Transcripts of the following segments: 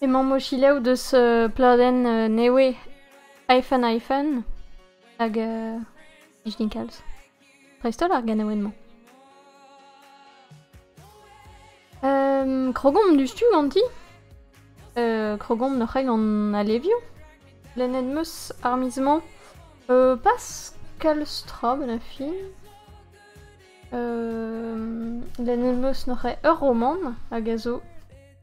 Emaomp o selaou deus pladenn nevez Hyphen Hyphen hag uh, plij din kalz. Dreist-holl ar ganaouenn-mañ. Um, krogomp dustu ganti. Uh, krogomp noc'h gant alevioù. Lennet meus ar miz-mañ uh, pas kalz tra ben a fin. Uh, lennet meus noc'h ur romant hag a zo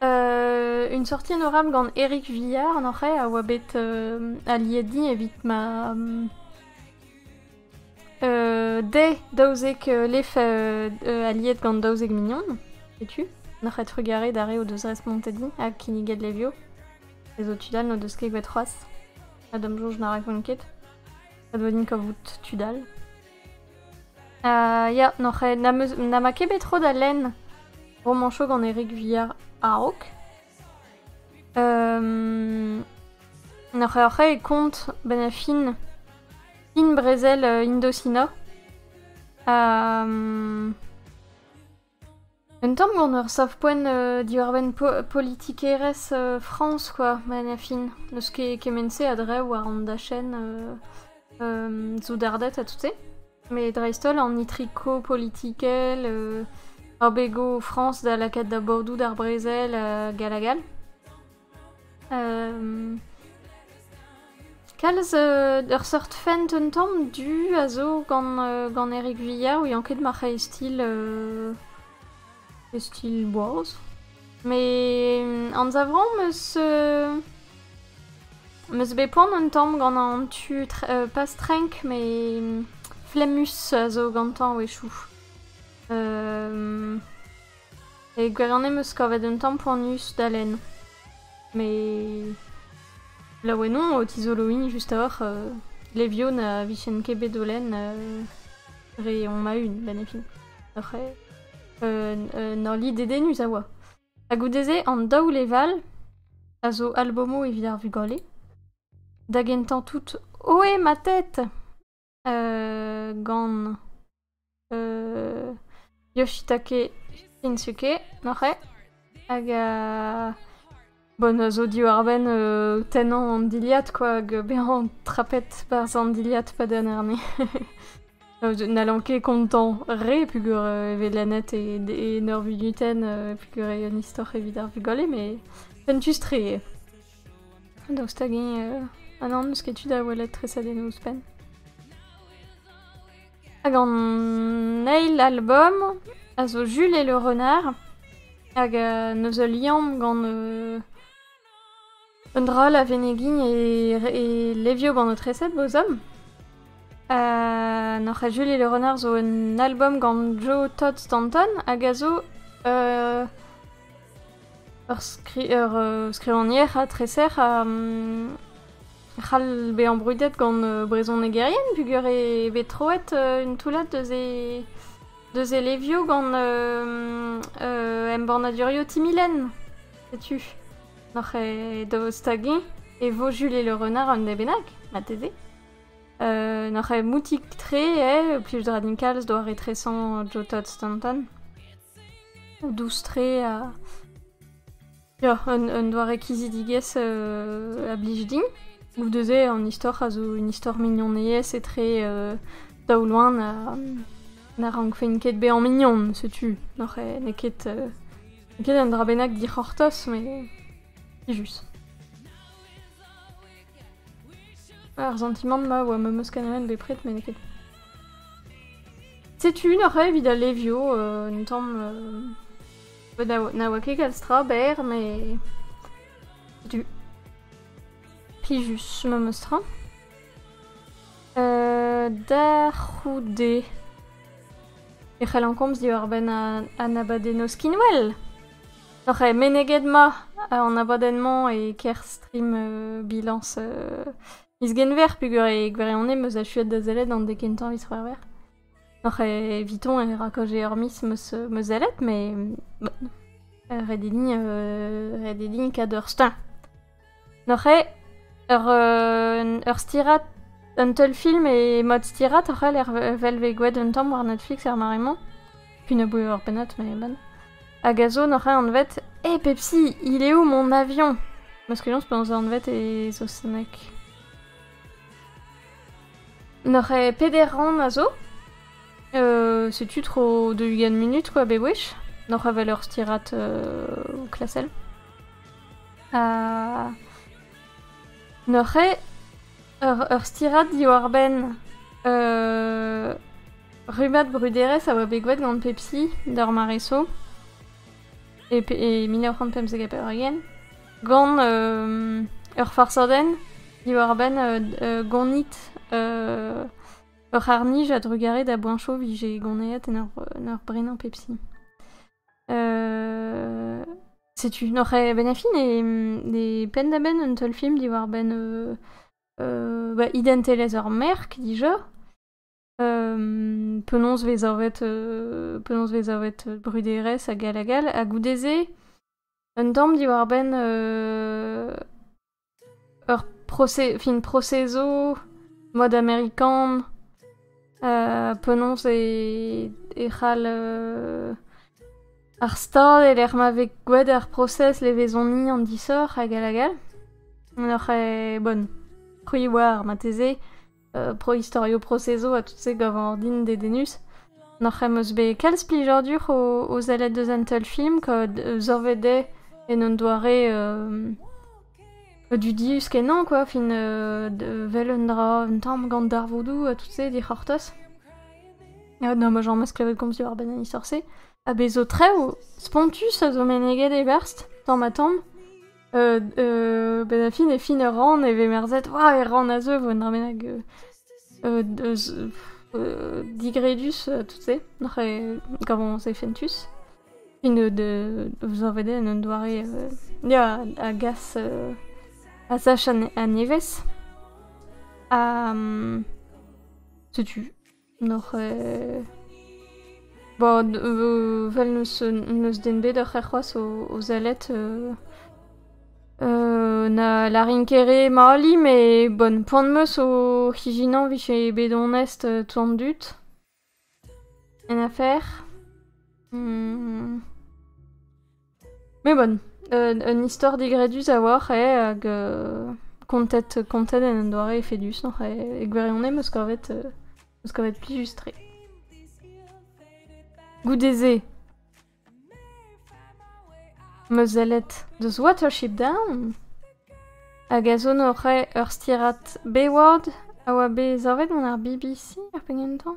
Une sortie honorable gant Eric Villard, en vrai, a oa bet aliedi evit ma dezhe daouzek lef aliet gant daouzek mignon. Setu, n'oc'h et trugarez d'ar re o deus respontet-hi ha kinniget levio. Les autres tudal n'o deus ket bet c'hoazh. Ha d'am soñj na rakont ket. A deu din kavout tudal. Ya, n'oc'h ket, na ma ket bet tro da lenn romañsoù gant Erik Villar a-raok. N'oc'h ket e kont bennañ fin brezel Indosina? Un tamm gant ur savpoent diwar-benn politikerezh Frañs kwa, fin. N'eus ket kement-se a-dreñv war an dachenn soudarded ha tout-se. Met dreist-holl an itriko politikel, abegoù Frañs da lakaat da bordoù d'ar brezel hag all hag all. Kalz ur seurt fent un tamm du a zo gant Erik Villar ouiañ ket marc'hai stil e stil boaz. Met anzavomp eus eus bet poan un tamm gant an tu pas trenk met flemmus a zo gantañ a-wechoù. E gwirionez 'm eus kavet un tamm poanius da lenn. Met laouen on o tizoloiñ just a-walc'h levion a vijen ket bet o lenn dre on ma-un, benn e fin. Oc'h un hollad dedennus a oa. Ha goude-se, an daou leval a zo albomoù evit ar vugale, da gentañ tout, ohé ma tête! gant Yoshitake Shinsuke, nac'hañ, hag bon, a zo diwar-benn tennañ an dilhad, quoi, hag bezañ trapet barzh an dilhad padenn arne. N'hallan ket kontañ re peogwir e vez lennet e neurvunutenn peogwir eo un istor evit ar vugale, mais fentus-tre eo. Daoust hag-eñ ha nann n'eus ket tu da welet tresadennoù ouzhpenn? Hag an eil albom a zo Jules et le renard hag neus ul liamm gant un dra la venegiñ e levio gant ho treset bo zamm. N'oc'h ket Jules et le renard zo un albom gant Joe Todd Stanton hag a zo Ur skrivagner ha treser a c'hall bezañ brudet gant brezhonegerien peogwir e vez troet un toullad deus e levioù gant embannadurioù Timilen. Setu, n'oc'h ket da stagiñ e vo Julie Le Renard un dra bennak, marteze. N'oc'h ket moutik-tre, plij 'dra din kalz doare-tresañ Joe Todd Stanton. Doust-tre ha peoc'h un doare kizidigezh a blij din. Goude-se an istor a zo un istor mignonez etre daoulagn ha na rankfen ket bezañ mignon, setu. N'oc'h n'eo ket un dra bennak dic'hortoz met plijus. Ar santimant-ma a oa ma meus kanalenn bepred, met n'eo ket... Setu neuze evit al levio, euh, un tamm... Euh, na oa ket kalz tra berr, mais... Setu. Plijus, ma meus tra. Euh, da c'houde... E c'hellan komz diwar-benn an abadenno skinwell Oc'h eo meneget ma an abadenn-mañ e kerstrimm bilañs miz Genver peogwir e gwirionez 'm eus achuet da sellet an dek kentañ miz C'hwevrer. Oc'h evitañ e rakaje ur miz 'm eus 'm eus sellet, met ret eo din ret eo din kador steuñv. Oc'h eo ur stirad, un teulfilm e mod stirad oc'h eo evel vez gwelet un tamm war Netflix er mare-mañ. Penaos eo ur pennad met bon. Hag a zo n'oc'h eo anvet Eh Pepsi, il est où mon avion? Meus ket soñj penaos eo anvet e saozneg. N'oc'h eo peder rann a zo. setu tro deux-ugent munut quoi bewech. N'oc'h eo 'vel ur stirad klasel. Ha neuze ur stirad diwar-benn rummad bruderezh a oa bet graet gant Pepsi d'ar mare so e mil nav c'hant pemzek ha pevar-ugent gant ur farsadenn diwar-benn gonit ur c'harr-nij a-drugarez da boan cho 'vije goneet en ur brenañ Pepsi. Setu, noc'h eo ben a fin e, e penn-da-benn un teulfilm diwar-benn euh, euh, bah, identelezh ur merk dija. Euh, penaos vez savet euh, penaos vez savet bruderezh hag all hag all. Ha goude-se, un tamm diwar-benn euh, ur proce- fin proceso mad amerikan ha penaos e e c'hall euh ar stad e-lec'h ma vez gwelet ar prosez levezoni an disoc'h hag all hag all. N'oc'h ket bonn. C'hwi 'oar marteze. pro-istorioù prosezo ha tout se gavan ordin dedennus. Noc'h em eus bet kalz plijadur o, o sellet deus an teulfilm, kad zorvet eo en un doare euh, dudius kenañ, quoi. Fin, euh, vel un dra, un tamm gant darvoudoù ha tout se dic'hortoz. Ja, no, ma jañ meus klevet komz diwar benn an isor-se. Ha bez zo trev spontus a zo meneget e-berzh, tamm ha tamm. benn a fin e fin ur rann e vez merzet ah e rann a zeu 'vo un dra bennak digredus tout se oc'h gant e fentus fin de zo bet en un doare ya a gas a sach a nevez ha setu N'oc'h bo vel n'eus den bet oc'h c'hoazh o sellet na lârin ket re mali met bon poan 'm eus o c'hijinañ 'vije bet onest tout an dud en afer. Mais bon, un, un istor digredus a-walc'h eo hag euh, kontet, kontet en un doare efedusoc'h e, e gwirionez 'm eus kavet, euh, 'm eus kavet plijus-tre. Goude-se, am eus sellet deus Watership Down, hag a sonore ur stirad Bayward a oa bet savet gant ar BBC ar pegen tañ.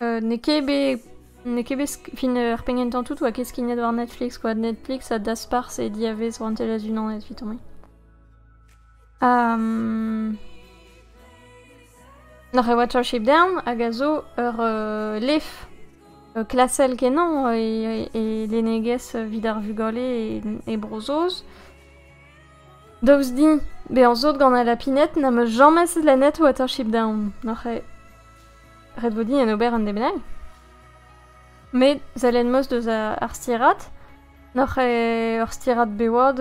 n'eo ket bet n'eo ket bet fin ar penn gentañ tout 'oa ket skignet war Netflix quoi Netflix a daspar ses diavez rouantelezh unanet evit tomp N'oc'h ket Watership Down hag a zo ur lef klasel-kenañ e lennegezh evit ar vugale e Bro-Saoz. Daoust din bezañ sot gant al lapined n'am eus james lennet Watership Down, n'oc'h ket? ret vo din en ober un dez bennak met sellet 'meus deus ar stirad n'oc'h eo ur stirad bewad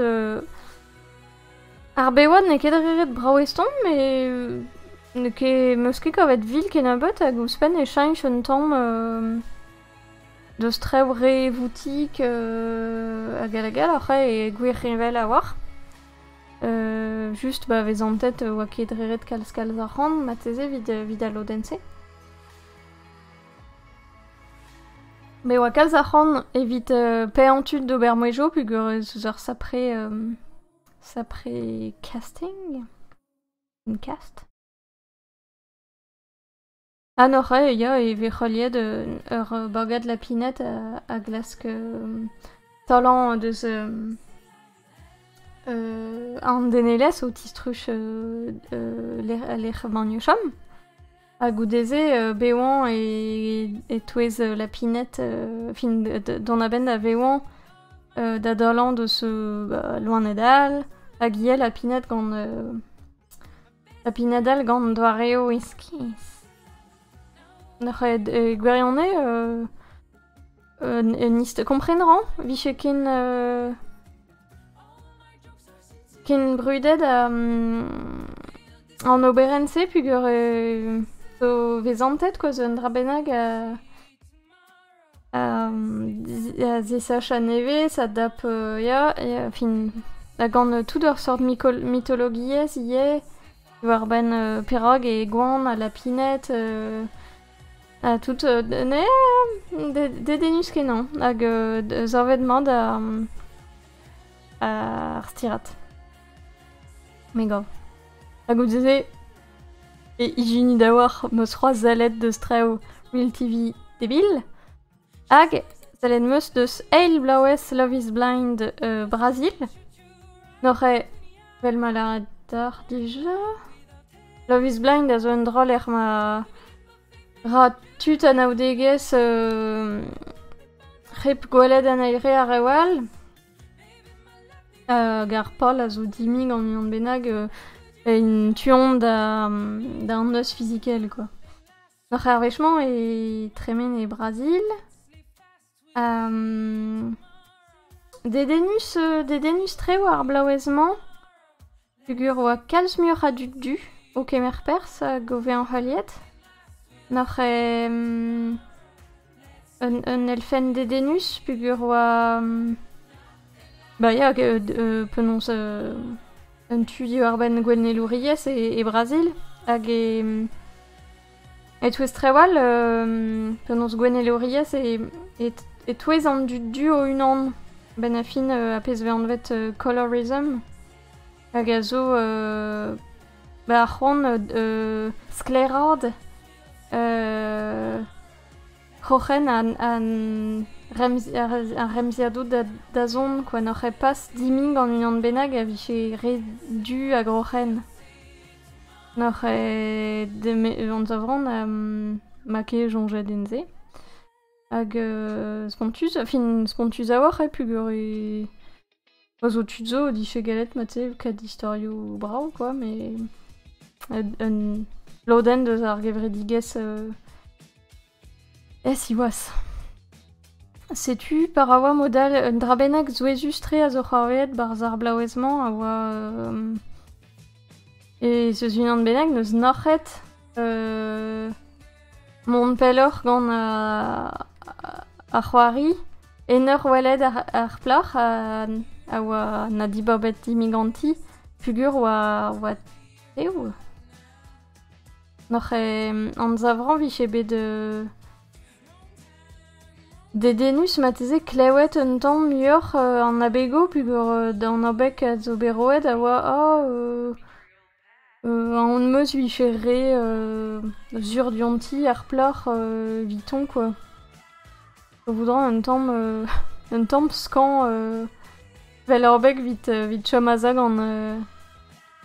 ar bewad n'eo ket re ret brav eston met n'eo ket meus ket kavet vil kennebeut hag ouzhpenn e cheñch un tamm deus trev re voutik hag all hag all oc'h eo gwir reñvel a-walc'h just pa vez santet e oa ket reret kalz-kalz arc'hant marteze evit al lodenn-se. Me oa kalz arc'hant evit euh, paeañ tud d'ober mouezhioù peogwir ez eus ur sapre euh, sapre casting. Une cast. Ha neuze ya e vez heuliet ur bagad lapined a glask taolañ deus an denelezh o tistruj lec'h emañ o chom. Ha goude-se bevañ e-touez lapined fin dont a-benn da vevañ da daolañ deus loened all hag ivez lapined gant Ha pinadell gant doareoù iskis. N'oc'h ket e gwirionez euh, un ist kompren ran? Vije ken euh, ken brudet an oberenn-se peogwir e zo vezantet kwa zo un dra bennak a Zisaach a-nevez a dap ya fin ha gant tout ur seurt mitologiezh ivez diwar-benn perak eo gwan ha lapined ha tout dedennus-kenañ hag savet-mat ar stirad me gav. Ha goude-se E ijini deoc'h 'meus c'hoarzellet deus traoù Will TV debil hag sellet 'meus deus eil bloavezh Love is Blind e Brazil. N'oc'h ket, vel ma lâret deoc'h dija, Love is Blind a zo un dra lec'h ma ra tud anaoudegezh hep gwelet an eil re ar rev all. Hag ar pal a zo dimp gant unan bennak en tu-hont d'an noz fizikel, quoi. Hor arvechement e tremen e Brazil. Dedennus, dedennus tre war ar blaouez-mañ. Peogwir e oa kalz muioc'h a dud du o kemer perzh hag o vezañ heuliet, nac'h eo un, un elfenn dedennus peogwir e oa... Ba ya, penaos un tu diwar-benn gouennelouriezh e, e Brazil hag e... e-touez trawal penaos gouennelouriezh e-touez an dud du o-unan, 'benn ar fin, a-pezh 'vez anvet colorism. hag a zo ar c'hoant sklaeraat kroc'hen ar remziadoù da zont kwa n'oc'h ket pas dimp gant unan bennak a vije re du ha groc'hen. N'oc'h ket anzavran ma ket soñjet din se. Hag spontus, fin spontus a-walc'h eo peogwir e Pa zo tud zo o dije gallet mat-se kaout istorioù brav quoi, mais un lodenn deus ar gevredigezh euh, eh, siwazh. Setu, pa ra oa mod all, un dra bennak souezhus-tre a zo c'hoarvezet barzh ar blaouez-mañ a oa... Euh, e seus unan bennak n'eus nac'het euh, Mont pelloc'h gant ar c'hoari en ur welet ar plac'h a oa na dibabet dimiganti pugur oa tev. Noc'h anzavrañ 'vije bet dedennus marteze klevet un tamm muioc'h an abegoù pugur d'an abeg a zo bet roet a oa oh. On 'meus 'vije re sur dionti ar plac'h evitañ kwa. A voudra un tamm un tamm skañv evel ur beg 'vit evit chom aze gant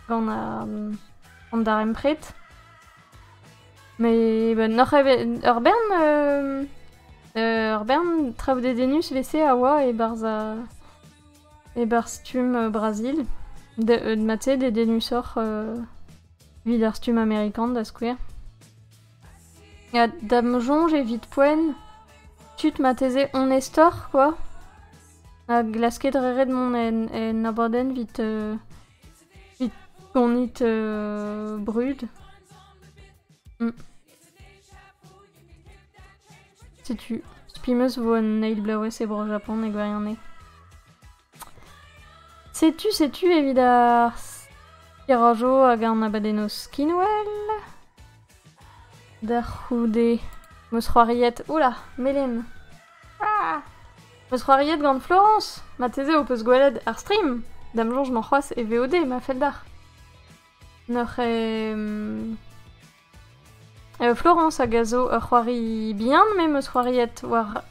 gant an darempred. Met n'oc'h evet ur bern ur bern traoù dedennus 'vese a oa e-barzh E-barzh stumm Brazil, mat-se dedennusoc'h evit ar stumm amerikan da skouer. Ha da'm soñj evit poent, tud marteze onestoc'h kwa, a glaske dre ret mont en abadenn evit gonit brud. Mm. Setu, spi meus vo un eil bloavezh e Bro-Japon e gwirionez. Setu, setu evit ar skerajo hag an abadennoz skinwell. Da c'houde, meus c'hoariet, oula, Melen. Ah! Meus c'hoariet gant Florence, mateze ho peus gwelet ar stream. Dam soñj m'an c'hoazh e VOD, ma fell d'ar. N'oc'h e... Florence hag a zo ur c'hoari bihan, me 'm eus c'hoariet war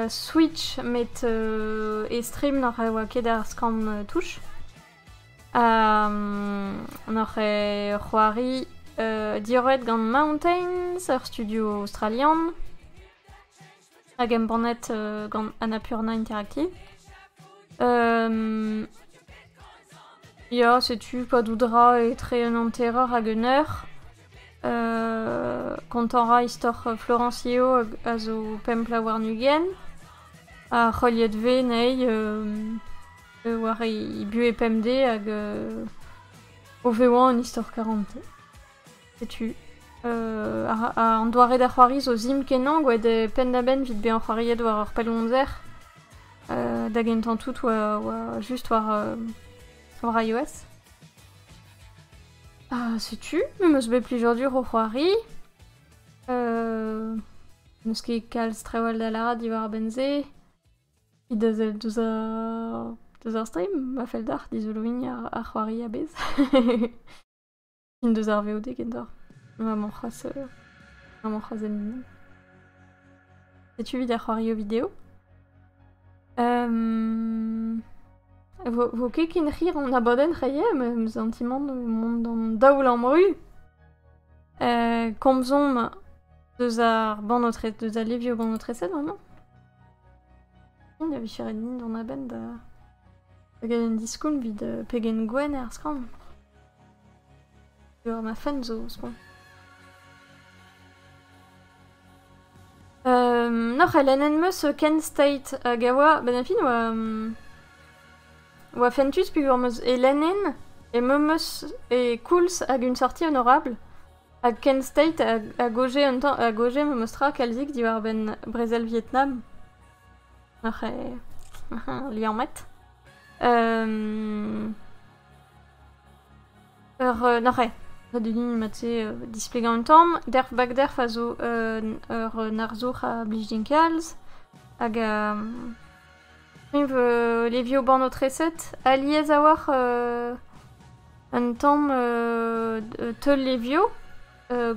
Switch met e stream n'oc'h oa ket ar skan touch. Ha n'oc'h c'hoari diorroet gant Mountains, ur studio aostralian. hag embannet gant Annapurna Interactive. Ya, setu Padoudra etre un hanterer hag un eur. Kontañ ra istor Florencillo a zo pemp bloaz warn-ugent. Ha heuliet vez anezhi war he buhez pemdez hag o vezañ un istor karante. Setu, an doare da c'hoari zo zim-kenañ, gwelet penn-da-benn evit bezañ c'hoariet war ur pellgomzer, da gentañ tout war, just war, war iOS. setu, me 'meus bet plijadur o c'hoari. N'eus ket kalz trawal da lâret diwar a-benn-se. Evit deus ar stream, ma fell deoc'h dizoloiñ ar c'hoari a-bezh. Une deus ar VOD genta. Maman c'hoaz... euh, Maman c'hoaz en Setu evit ar c'hoario video. Euh... Vo, vo ket ken rir an abadenn reie, ma em zantimant mont d'an daoulamm ru. Euh, komzomp deus ar bannotres, deus al levio bannotrezet, vraiment. Il y avait cheré dans la band da... Da ganen diskoulm vid euh, pegen gwen er skam. Ur afen zo ouzhpenn. N'oc'h elennet 'm eus Kent State hag a oa... Benn ar fin oa... oa fentus peogwir 'm eus e lennen e meump eus e koulz hag un sorti honorabl hag Kent State a goje un tamm... a goje memes tra kalzik diwar-benn brezel Vietnam. N'oc'h liammet. Ur nac'hañ. Ret eo din mat-se displegañ un tamm. Derv Bagderv a zo ur arzour a blij din kalz hag eñv levio bannoù-treset. Alies a-walc'h un tamm teul-levio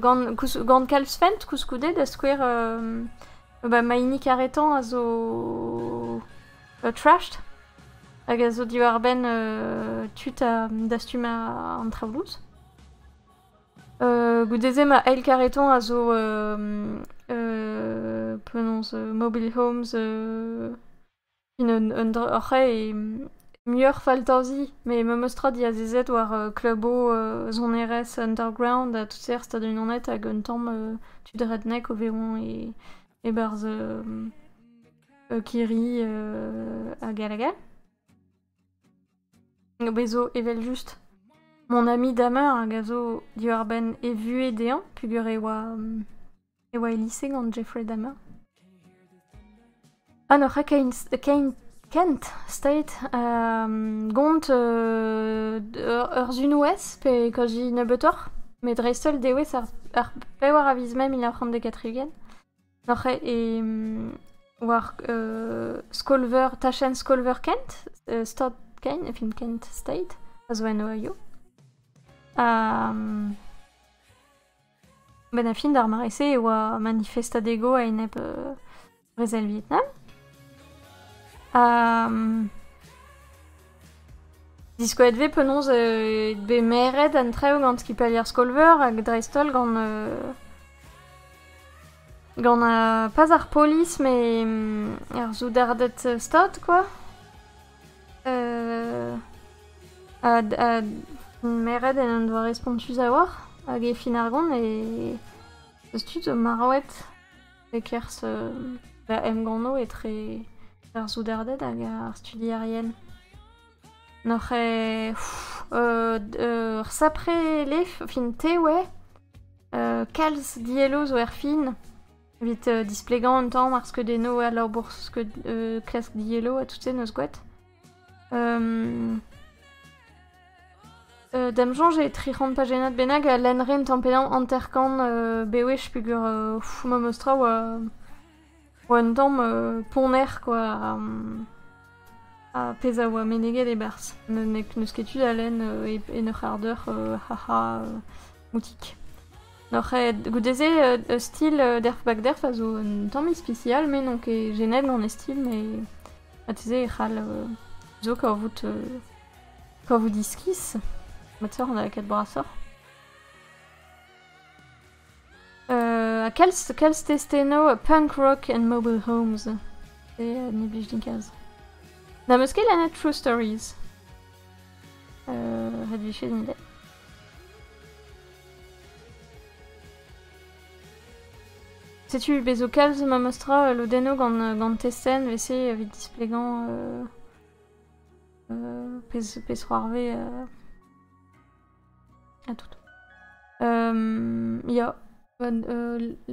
gant kalz-fent koulskoude da skouer ma hini karetañ a zo trashed hag a zo diwar-benn tud a dastum an traoù louz. goude-se ma eil kareton a zo penaos mobile homes un dra oc'h e muioc'h faltazi met memes tra diazezet war klubo sonerezh underground ha tout-se er Stadoù-Unanet hag un tamm tud redneck o vezañ e-barzh kirri hag hag hag. Bezo evel-just mon ami Damer hag a zo diwar-benn e vuhez dezhañ, pugur e oa, e oa e lise gant Jeffrey Dahmer. Ah no, c'ha kein kent staet gont ur zunouez pe kaji nebeutoc'h, met dreist-holl dewezh ar pevar a viz mai mil nav c'hant dek ha tri-ugent. Oc'h e war uh, skol-veur, tachenn skol-veur Kent, uh, Stad Kent, film Kent State, a zo en Ohio. Ha um, ben a fin d'ar mare-se e oa manifestadego a-enep uh, brezel Vietnam. Ha um, Diskoet vez penaos eo bet meret an traoù gant skipailh ar skol-veur hag dreist-holl gant gant pas ar polis met ar soudarded stad quoi. meret en un doare spontus a-walc'h hag e fin ar gont e 'z eus tud zo marvet. e-kerzh da emgannoù etre ar soudarded hag ar studierien. N'oc'h ket... ur sapre lef, fin te oe, kalz dielloù zo erfin evit displegañ un tamm ar skeudennoù ha labour klask dielloù ha tout-se 'neus gwraet. D'am soñj eo tri c'hant pajennad bennak a lenn ren tamm-pe-damm hanter-kant bewech peogwir memes tra oa un tamm ponner kwa ha pezh a oa meneget e-barzh. N'eus ket tu da lenn en ur c'hard eur haha moutik. Goude-se ur stil derv-back-derv a zo un tamm ispisial met n'on ket jenet gant e stil met Marteze e c'hall zo kavout kavout iskis. Ma teuer an avocat brasoc'h. ha kalz, kalz testeno punk rock and mobile homes. E ne blij din kalz. Na meus ket lennet True Stories. Uh, ret vicher din Setu bez' zo kalz memestra lodennoù gant testenn evese evit displegañ pezh c'hoarvez ha tout. ya,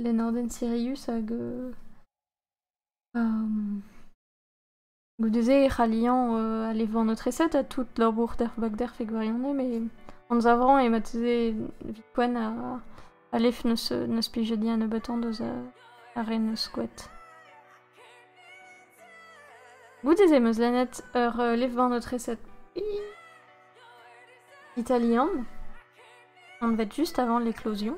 Lenardenn Sirius hag Goude-se e c'halliañ euh, aller voir notre recette ha tout labour d'er bak d'er fed gwirionez, mais anzav a rañ eo marteze evit poent a alef n'eus n'eus plij di an nebeutañ deus euh, ar re neus skoet. Goude-se 'm eus lennet ur euh, lef war notre recette ih, italian, anvet juste avant l'éclosion.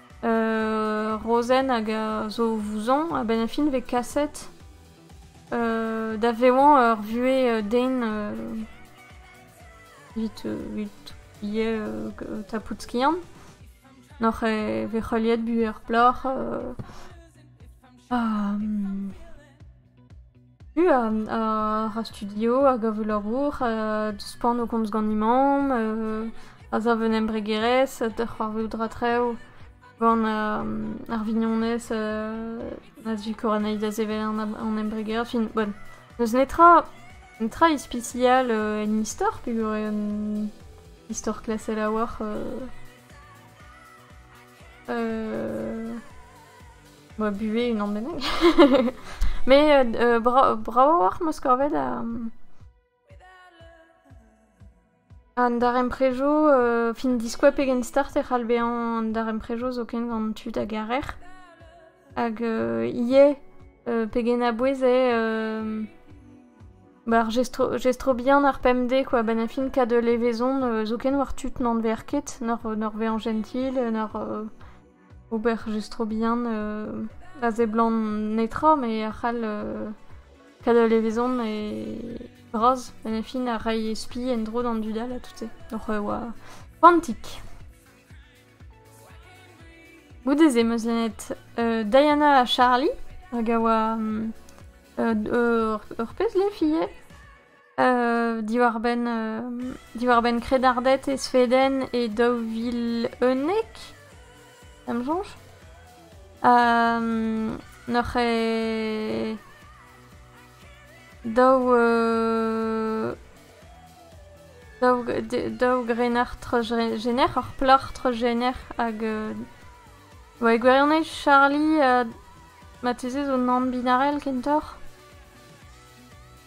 Rozenn hag a zo vouzon a-benn ar fin e vez kaset da vevañ ur vuhez den evit evit ivez tapout skiant. Noc'h e vez heuliet buhez ar plac'h ha Buan, ar studio a gav labour, deuspan o komz ganin-mañ, azav un embregerezh, da c'hoarvezout rakrev gant ar vignonez na sikour anezhi da sevel an embregerezh. Fin, bon, n'eus netra, netra ispisial en istor peogwir eo un istor klasel a-walc'h. Bah, buhez unan bennak. Mais euh, euh, bra- bravo oc'h ma skorvet a... An daremprejo, euh, fin diskoa pegen start e c'hall bezañ an daremprejo zoken gant tud a garer. Hag euh, ivez, euh, pegen a-bouez eo euh, Bah, ar gestro, gestro bihan ar pemdez, quoi. Ben a fin kad levezon, euh, zoken war tud n'an ver ket, nor, nor vezañ jentil, nor euh, ober just tro bihan a seblant netra me a c'hall kaout ul levezon e bras en e fin a ray e spi en-dro d'an dud all ha tout-se oc'h e oa koantik. Goude-se 'm eus lennet Diana ha Charlie hag a oa ur pezh lef ivez. diwar-benn diwar-benn kredarded e Sveden e daou vil unnek, em soñj. N'oc'h eo daou daou daou grener treuzrener, ur plac'h treuzrener hag e gwirionez Charlie marteze zo nann-binarel kentoc'h.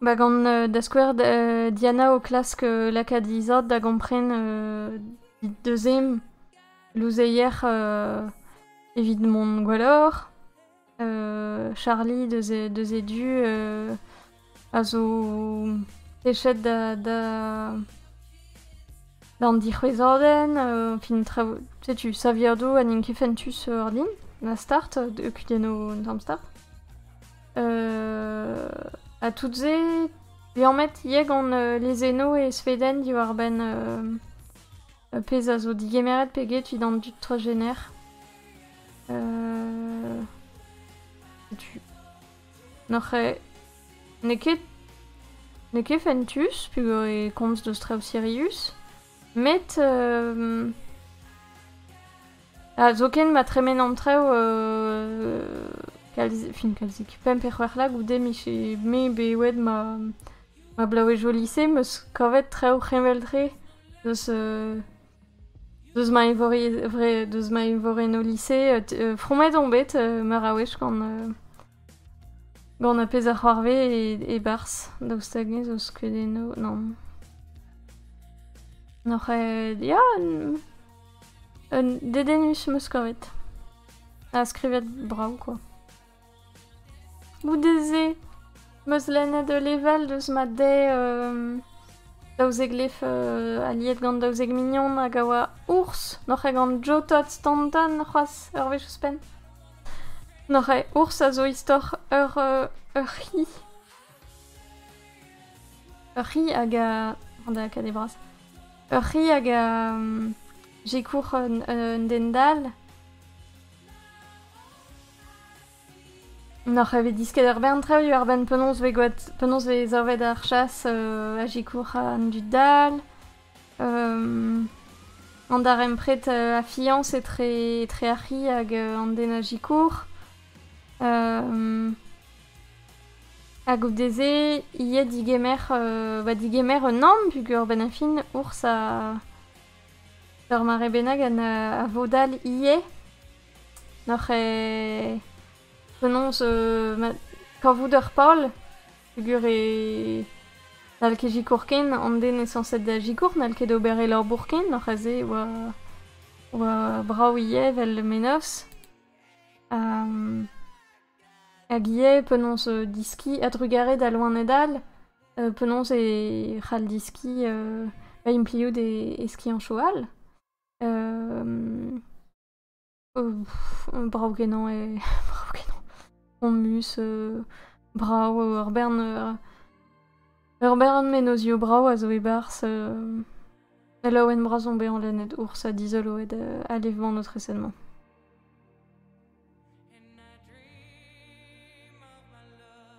Ba gant da skouer Diana o klask lakaat he zad da gompren he deuzième louzeier evit mont gwelloc'h. Charlie deus e deus e du a zo techet da da d'an dic'houezadenn fin traoù setu saviadoù ha n'int ket fentus ordin na start, deuet kuit en o tamm start. ha tout-se liammet ivez gant lezennoù e Sveden diwar-benn uh, pezh a zo digemeret peget evit an dud transgener. Uh, N'oc'h eo... N'eo ket... N'eo ket fentus, peogwir e komz deus Trauserius, Met zoken ma tremen an traoù kalzik, fin kalzik, pemp pe c'hwec'h lag goude mije me bewet ma ma blavezh au lise 'm eus kavet traoù heñvel-tre deus deus ma eñvore deus ma eñvorenn au lise fromet on bet meur a wech gant Gant ar pezh a c'hoarvez e-barzh, daoust hag-eñ zo skeudennoù... nann. N'oc'h ya, un dedennus 'm eus kavet. Ha skrivet brav, quoi. Goude-se, 'm eus lennet ul level deus ma dez daouzek lef aliet gant daouzek mignon hag a oa ours. N'oc'h ket gant Joe Todd Stanton c'hoazh, ur wech ouzhpenn? N'oc'h ours a zo istor ur c'hi. Ur c'hi hag a... An akadez vras. Ur c'hi hag a... Sekour un den dall. N'oc'h evit disket ur bern traoù diwar benn penaos 'vez savet ar chas a sekour an dud dall. An darempred a fiañs etre etre ar c'hi hag an den-a-zikour. Hag goude-se ivez digemer ba digemer un namm pugur a-benn ar fin ouzh ur mare bennak a vodal ivez. Penaos kavout ur pal. peogwir e n'hall ket sikour ken an den sañset da sikour n'hall ket ober e labour ken oc'h aze e oa oa brav ivez evel menoz hag ivez penaos diskiñ a-drugarez da loened all penaos e c'hall diskiñ ba impliout e skianchoù all Euh, brav-kenañ eo... brav-kenañ. Pompus, euh, brav, ur bern... euh, ur bern menozioù brav a zo e-barzh. euh, Laouen bras on bet en lennet ours ha dizoloet euh, alevban notre recensement.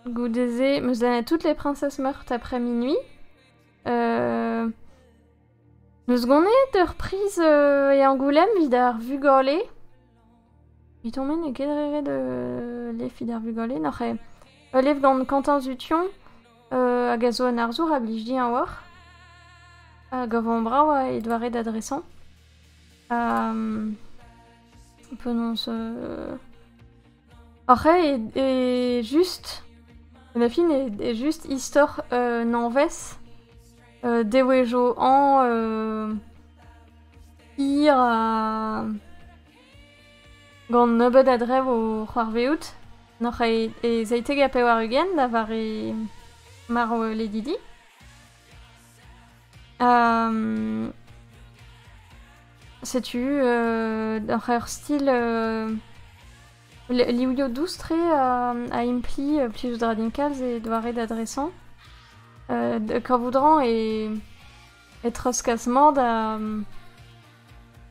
Goude-se, 'm eus lennet toutes les princesses meurthes après minuit. Euh, 'Neus ganet ur priz e Angoulême 'vit ar vugale. Evitomp-me n'eo ket re ret ul lef 'vit ar vugale nac'h eo. Ul lef gant Quentin Zution hag a zo un arzour a blij din a-walc'h. Hag avañ-brav eo e doare da dresañ. Ha penaos... Ac'hañ eo just, da fin eo just istor un hañvezh devezhioù hañv hir ha gant nebeut a drev o c'hoarvezout. Nac'hañ e zeitek ha pevar-ugent da vare marv Lady Di. Setu oc'h ur stil livioù dous-tre a impli plij eus dra din kalz e doare da dresañ. Kavout-rañ e treuzkas-mañ da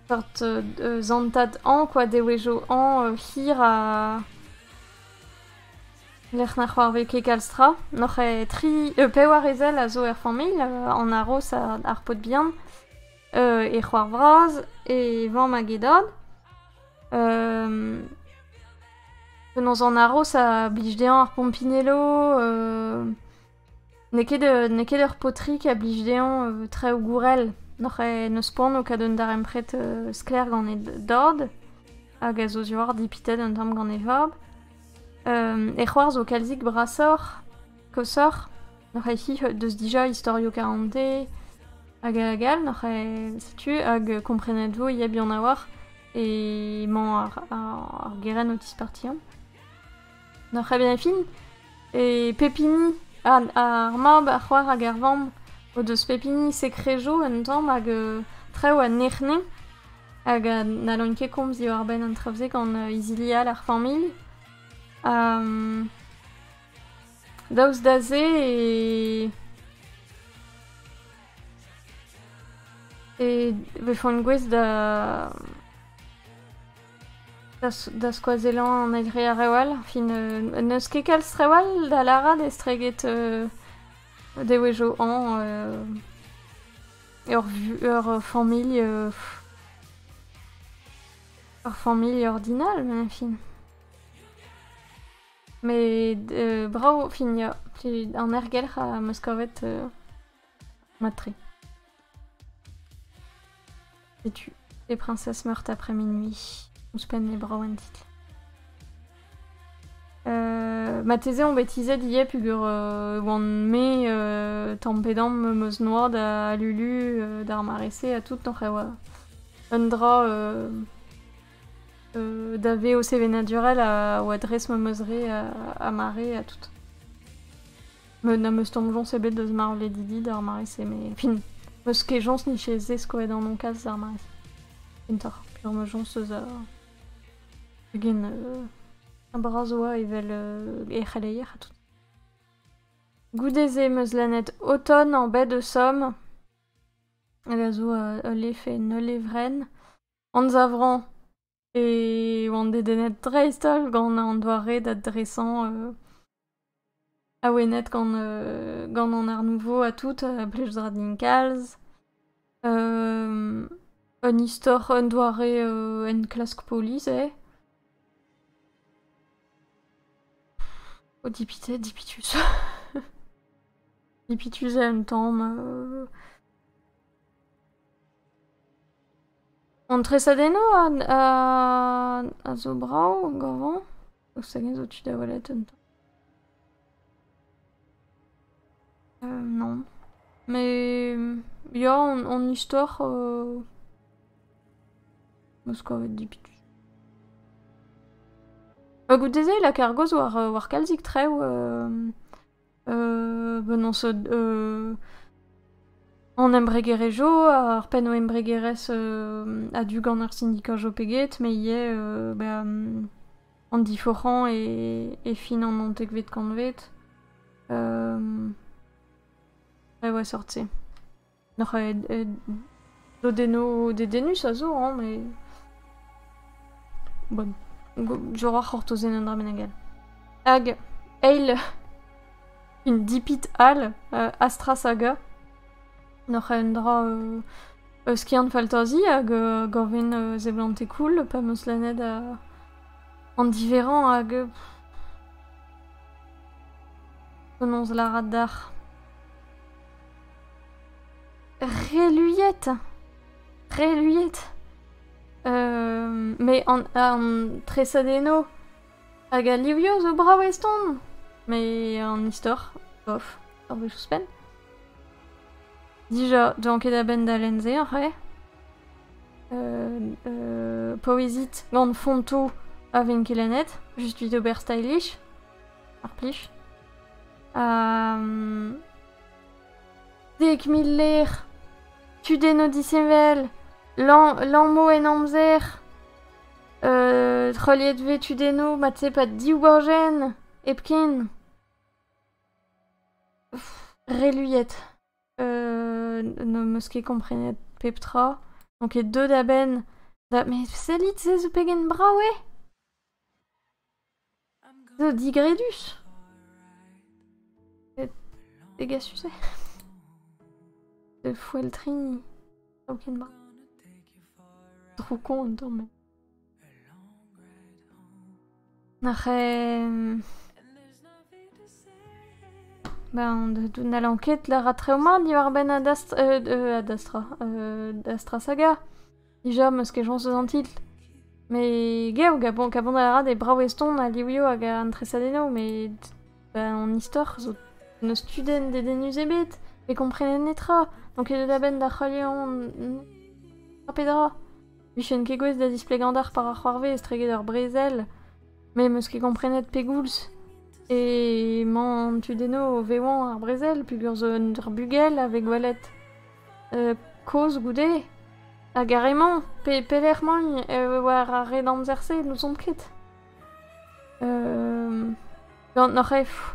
seurt zantad hañ kwa, dewezho hañ hir ha... Lec'h na c'hoarvez ket kalz tra. N'hoc'h eo tri, pevar ezel a zo er familh, an aroz, ar paotr bihan, he c'hoar vras, he vamm hag he dad. Penaos an aroz a blij dezhañ ar pompinello. N'eo ket, n'eo ket ur paotrig a blij dezhañ traoù gourel. N'oc'h n'eus poan o kaout un darempred sklaer gant e dad, hag a zo diwar dipitet un tamm gant e vab. e c'hoarzh o kalzik brasoc'h, koshoc'h. N'oc'h ket deus dija istorioù karante, hag hag all. N'oc'h setu, hag komprenet vo ya buan a-walc'h. Emañ ar ar gerenn o tispartiañ. Na très bien fin. E pep hini, ar, ar mab, ar c'hoar hag ar vamm o deus pep hini sekrejo un tamm hag euh, traoù a nec'hne hag a n'hallont ket komz diwar-benn an traoù-se gant euh, izili all ar familh. Um, daoust da se e e vefont gouest da Da skoazellañ an eil re ar rev all. Fin n'eus ket kalz rev all da lâret estreget devezhioù hañv ur familh ur familh ordinal met fin. Met brav fin ya. An ergelc'h am eus kavet. Matre. Setu les princesses meurent après minuit. Ouzhpenn e brav en titl. Euh, mateze on bet tizhet ivez peger euh, oan me euh, tampedam meus eus noa da lulu euh, d'ar mare-se ha tout oc'h ewa un dra euh, euh, da ve o sevenadurel a oa dres meus re a, a mare ha tout. Me n'am eus soñjoñs ebet deus marvledivi d'ar mare-se, met fin, meus kejañs niche zeskoet an nonkaz d'ar mare-se. Kentoc'h, peur ma joñs eus ur... ugent uh, bras oa evel uh, er c'heleier ha tout. Goude-se meus lennet Automne en bet de Somme, hag a zo uh, ul levr neul levrenn, anzavrañ E oan dedennet dreist-holl gant an doare da dresañ awenet gant gant an art nouveau ha tout, a blij dra din kalz. Un istor, un doare enklask polis eo. O dipitet, dipitus. Dipitus eo un tamm. An tresadennoù a zo brav gañvañ. Ouzh hag-eñ zo tu da welet un tamm? non. Mais ya, an istor am eus kavet dipitus. Ha goude-se, La Cargos war kalzik traoù Benaos an embregerezh zo, ar pennoù-embregerezh a-du gant ar sindika zo pe get, met ivez an diforc'hañ e fin an naontekvet kantved. Reoù a-sort-se. N'oc'h dodennoù dedennus a zo hañ met bon je roa c'hortozenn un dra bennak all. Hag eil une dipit all Astra Saga n'oc'h un dra skiant-faltazi hag gaven seblantet cool pa 'm eus lennet an diverrañ hag penaos lârat deoc'h. Reluiet Reluiet Me an treset eno hag a livio zo brav eston met an istor, bof, ur wech ouzhpenn. Dija, dont ket a-benn da lenn se, c'hwez. Poezit gant fontoù a ven ket lennet, just evit ober stylish. Ar plij. Um... Dek mil ler. Tudennoù disheñvel. Lammo en amzer. Uh, treuliet tudennoù, mat-se pa div gorjenn. Hepken. Reluiet. Euh, ne meus ket komprenet pep tra. Donc e deu da benn. Da... Mais sellit, se zo pegen brav eo! Zo digredus. Pegasus eo? De foeltrini. Tamm ket mat. Droukon eo met. Ar Ben, n'hallan ket lâret treo mat diwar-benn Adastra, Astra Saga. Dija, meus ket chañs eus an titl. Mais gav, kabanal a ra d'e brav-eston a livioù hag an tresadennoù, met ben, an istor zo n'eus tudenn dedennus ebet, ne komprenen netra, n'on ket a-benn da c'heuliañ tra pe dra. Vijen ket gouest da zisplegañ d'ar par a c'hoarvez estreget ur brezel. Me 'm eus ket komprenet pegoulz emañ an tudennoù o vevañ ar brezel peogwir zo un ur bugel a vez gwelet kozh goude. Hag ar re-mañ, pe- pelec'h emaint war ar red amzer-se n'ouzon ket. N'oc'h ket f-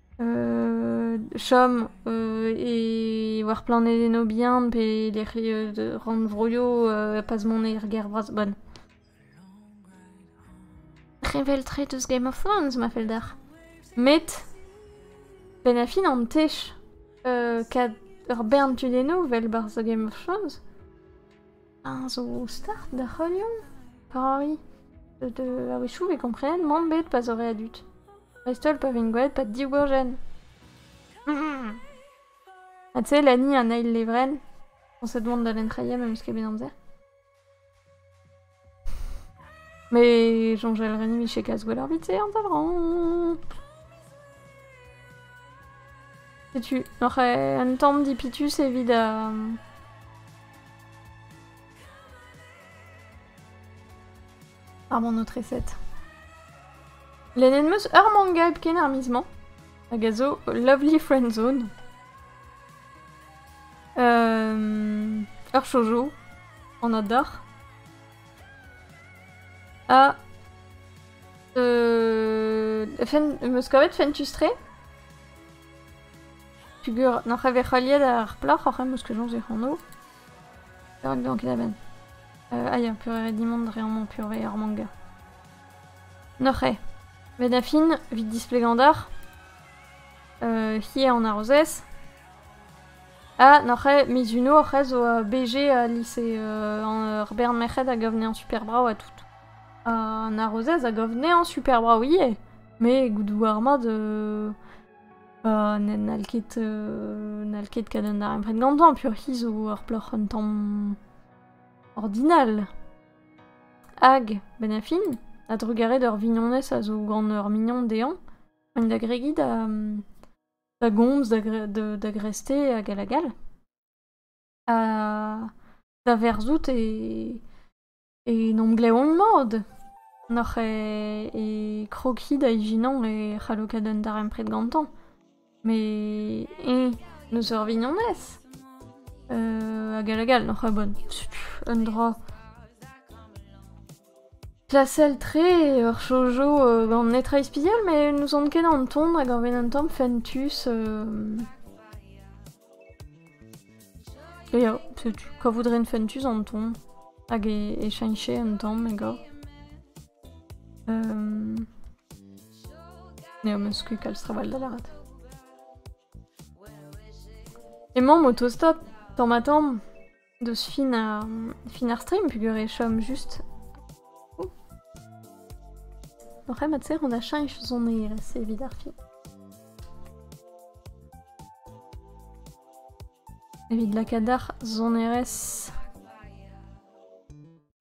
chom war planedennoù bihan pe lec'hioù rannvroioù pas mont er gêr vras-bonn. Revel-tre deus Game of Thrones ma fell deoc'h. Met benn ar fin an tech ur bern tudennoù 'vel 'barzh Game of Thrones. Eñ zo start da c'heuliañ Paris. Deut a-wechoù e komprenan mont bet pa zo re a dud. Dreist-holl pa vin gwelet pa diwurjenn. Ha tu eo Lani an eil levrenn. Koñset mont da lenn-treier memes ket bet amzer. Mais soñjal ren vije kas gwell ar bit-se an tav-rañ. Setu, oc'h un tamm dipitus evit... Ar monotreset. Lennet meus ur manga hepken ar miz-mañ, hag a zo Lovely Friend Zone. Um, ur shoujo, an ador. Ha... Euh... Fen... meus kavet Fentustre. Peogwir n'oc'h evet heuliet ar plac'h oc'h em eus kejañs ac'hano. Perak deomp ket a-benn? Euh, aia, peurré dimp mont dre amañ peurré ar manga. N'oc'h eo. Met da fin, evit displegañ deoc'h, euh, hi eo an arozez. Ha n'oc'h eo, Mizuno oc'h eo zo a BG a lise euh, ar bern merc'hed a gav anezhañ super brav ha tout. An arozez a gav anezhañ super brav ivez, met goudoù ar mad... euh, Ha n'hall ket n'hall ket kat an darempred gantañ peoc'h hi zo ur plac'h un tamm ordinal. Hag, benn ar fin, a-drugarez d'ur vignonez a zo gant ur mignon dezhañ, int da gregiñ da da gomz, da gre- da da grestez hag all hag all. Ha da verzout e En emglev-mat n'oc'h e krogiñ da ijinañ e c'hallo ket an darempred gantañ. Met eñ n'eus ur vignonez hag all hag all n'oc'h a-bonn. Un dra. Klasel-tre ur chojo gant netra ispisial met n'ouzon ket an ton hag ar benn an tamm fentus. Ya, setu kavout ren fentus an ton, hag e, e cheñche un tamm egor. Um, ya, meus ket kalz trawal da lâret. Emañ o tostaat tamm-ha-tamm Deus fin ar, fin ar stream peogwir e chom just... Ouh. Oc'h mat serr an achach sonerezh evit ar fin. Evit lakaat ar sonerezh...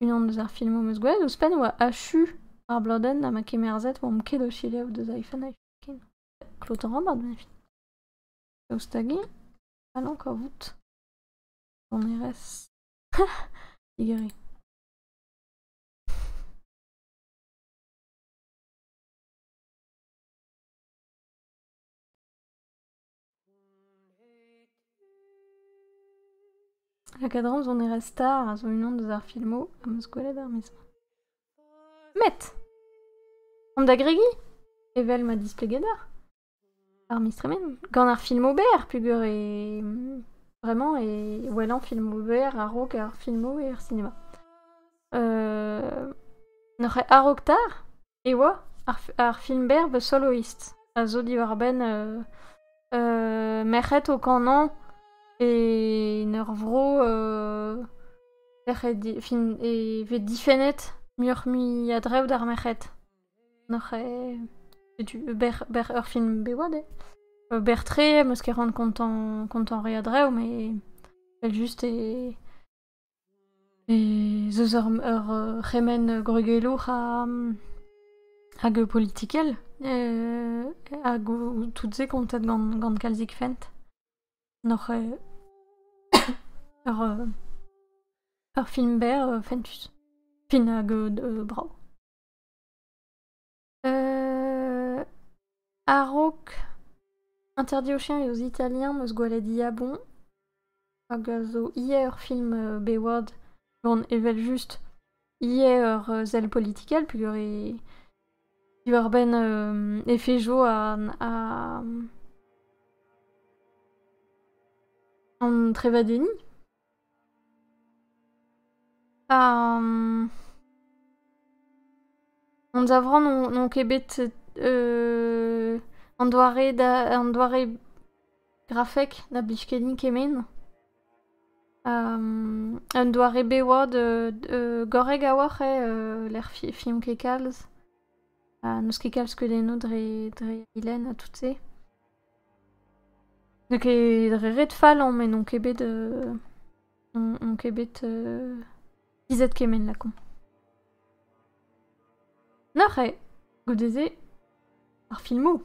Unan deus ar filmoù am eus gwelet ouzhpenn oa achu ar blodenn ha ma kemerzet oamp ket o selaou deus iPhone ken. Klotañ rabard, ben fin. Daoust hag-i? Allez encore vout. sonerezh y La cadence sonerezh star a zo unan deus ar filmoù am eus gwelet er maez. Met! An da gregiñ? Evel ma displeged ar? Ar miz tremen, gant ar film ober peogwir e vraiment e wellañ film ober a-raok ar filmoù er cinéma. N'oc'h a-raok 'ta e oa ar f- ar film berr The Soloist a zo diwar-benn merc'hed o kanañ e en ur vro e vez difennet muioc'h-mui a-drev d'ar merc'hed. Oc'h eo... setu ober, ober ur film bev eo. Ober-tre, 'm eus ket ran kontañ, kontañ re a-dreñv, met evel-just e... ez eus ur, ur c'hemenn gwregelour ha... hag politikel. hag tout se kontet gant, gant kalzik fent. N'oc'h eo... ur... ur film berr, fentus. Fin hag brav. Euh, a-raok interdit aux chiens et aux Italiens de se gwalet diabon. Hag a zo hier ur film euh, Bayward gant evel-just hier ur euh, zell politikel peogwir e diwar-benn euh, efejo an, a- an trevadenniñ. An zavran n'on ket bet an doare da an doare grafek na blij ket din kement. Un doare bet oa gorrek a-walc'h eo lec'h fion ket kalz. N'eus ket kalz skeudennoù dre dre e lenn ha tout se. N'eo ket dre ret fallañ met n'on ket bet n'on ket bet tizhet kement lakaomp. Neuze, goude-se, ar filmoù.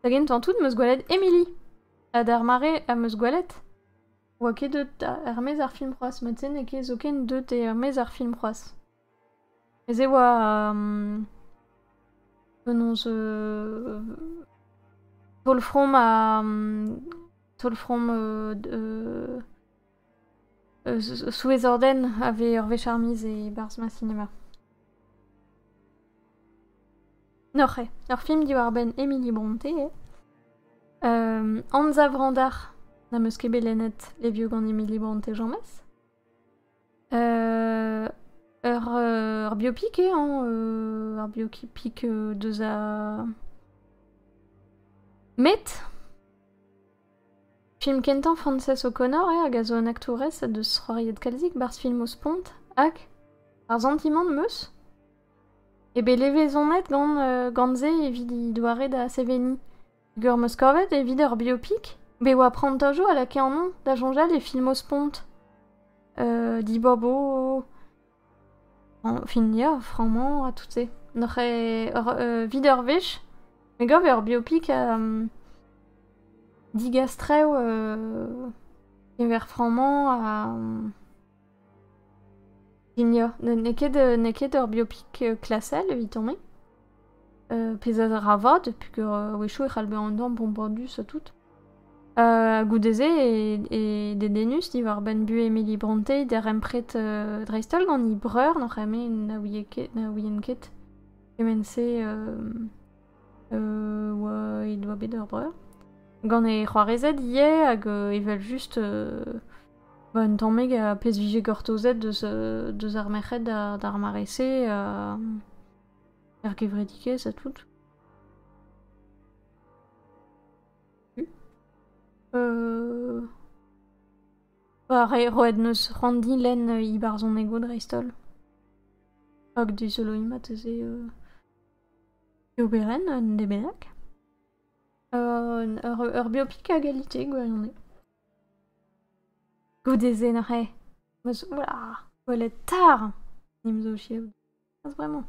Da gentañ tout 'meus gwelet Emily. Ha d'ar mare am eus gwelet 'oa ket deut er-maez ar film c'hoazh. Mod-se n'eo ket zoken deut er-maez ar film c'hoazh. Ez eo penaos taol-from ha taol-from souezh-ordenn a vez ur wech ar miz e-barzh ma sinema. Oc'h eo. Ur film diwar-benn Emily Brontë eo. Anzav-randar n'am eus ket bet lennet Les Vieux gant Emily Brontë james. Ur biopic eo hañ ur biopic deus ar Met film kentañ Frances O'Connor eo hag a zo un aktourez deus C'hoariet kalzik 'barzh filmoù spont hag ar santimant 'm eus eo bet levezonet gant gant se evit he doare da seveniñ. Ur meus kavet evit ar biopik bet oa prantajoù a lakae annon da soñjal e filmoù-spont. dibabo fin ya frañmañ ha tout-se. Noc'h evit ur wech me gav ur biopik digastrev keñver frañmañ ha Pignol. N'eo ket, n'eo ket ur biopik klasel evitomp-me. pezh a ra vat, peger a-wechoù e c'hall bezañ an dorn bombardus ha tout. goude-se e dedennus diwar-benn buhez Emily Brontë, darempred dreist-holl gant he breur, n'hoc'h eme na ouie ket, na ouien ket kement-se he doa bet ur breur. Gant he c'hoarezed ivez, hag evel-just Ba un tammig a pezh vije gortozet deus deus ar merc'hed d'ar mare-se er gevredikez ha tout. Ba re roet 'neus Ranndi lenn he barzhonegoù dreist-holl. Hag dizoloiñ marteze e oberenn un debedag. Ur ur biopik a galite gwirione. Goude-se n'oc'h ket meus gwelet tar n'em zo chiaout n'eus bremañ.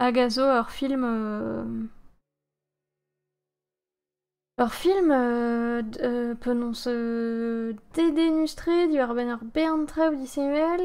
Hag a zo ur film ur film penaos dedennus-tre diwar-benn ur bern traoù disheñvel.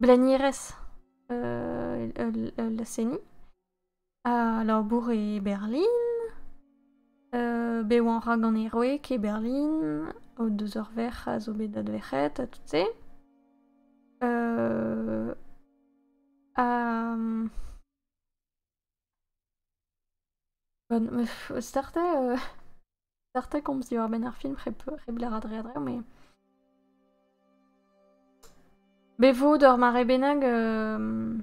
Blenierez ul seniñ. A labour e Berlin. bet oan rak gant e wreg e Berlin. O deus ur verc'h a zo bet adverc'het ha tout se. ha Gant ma f- startañ euh, startañ komz diwar-benn ar film hep hep lârat re a draoù, mais bevaout ur mare bennak euh,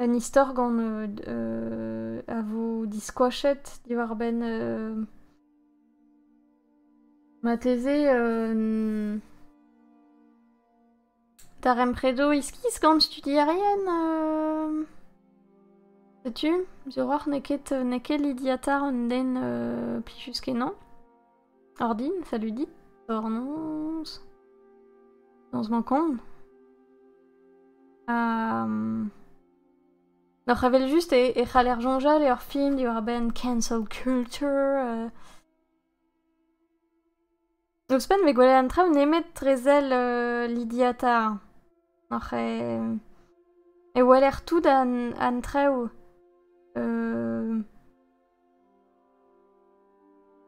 un istor gant euh, d- euh, a vo diskoachet diwar-benn euh, marteze euh, Darempredoù iskis gant studierien setu, suroc'h n'eo ket n'eo ket lidiatañ un den plijus-kenañ. Ordin, salut dit, dornoz, noz ma kont. Oc'h evel just e c'haller soñjal eo ar film diwar-benn cancel culture. Ouzhpenn 'vez gwelet an traoù nemet dre sell euh, lidiata. Oc'h e, e weler tout an, an traoù. Euh,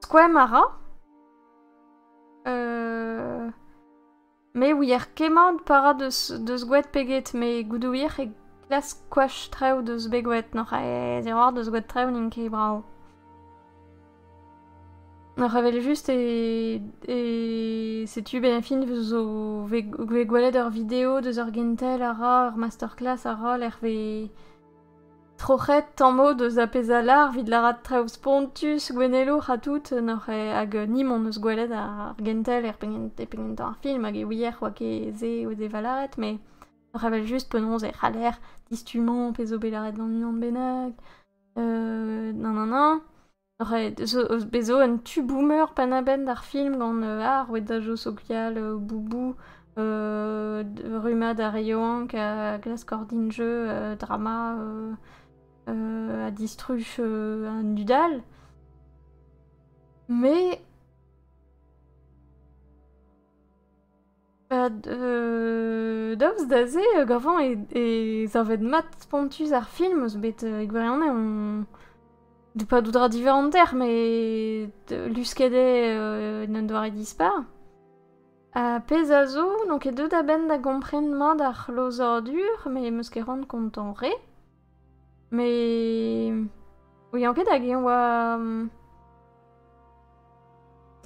skoemp a ra. Euh, Me ouier kemmañ para deus gwet pe get, met goude ouier e klask koach traoù deus bet gwet, n'oc'h aes eroc'h deus gwet traoù n'int ket brav. N'oc'h eveljust e setu bennañ zo vez gwelet ur video deus ur gentel a ra, ur masterclass a ra lec'h vez... Troc'het tamm-ho deus apezala evit lârat traoù spontus, gouennelour ha tout, n'oc'h hag ni-mont eus gwelet ar gentel er penn e penn kentañ ar film hag e ouier oa ket se o deva lâret, mais oc'h avel just penaos e c'haller distummañ pezh zo bet lâret gant unan bennak, nanana. Ret zo bet zo un tu boomer penn a-benn d'ar film gant ar rouedajoù sokial Boubou, rummad ar re yaouank a glask ordin jeu drama ha distruj an dud all. Me... Ba d- daoust da se, euh, gavañ e e savet mat spontus ar film, eus bet euh, e gwirionez on d- pas d'où dra différent terre, mais d- lusket eo euh, en un doare dispar. Ha pezh a zo, n'on ket deuet a-benn da gompren mat ar c'hlozadur, mais 'm eus ket c'hoant kontañ re. Mais ouian ket hag eñ oa mm,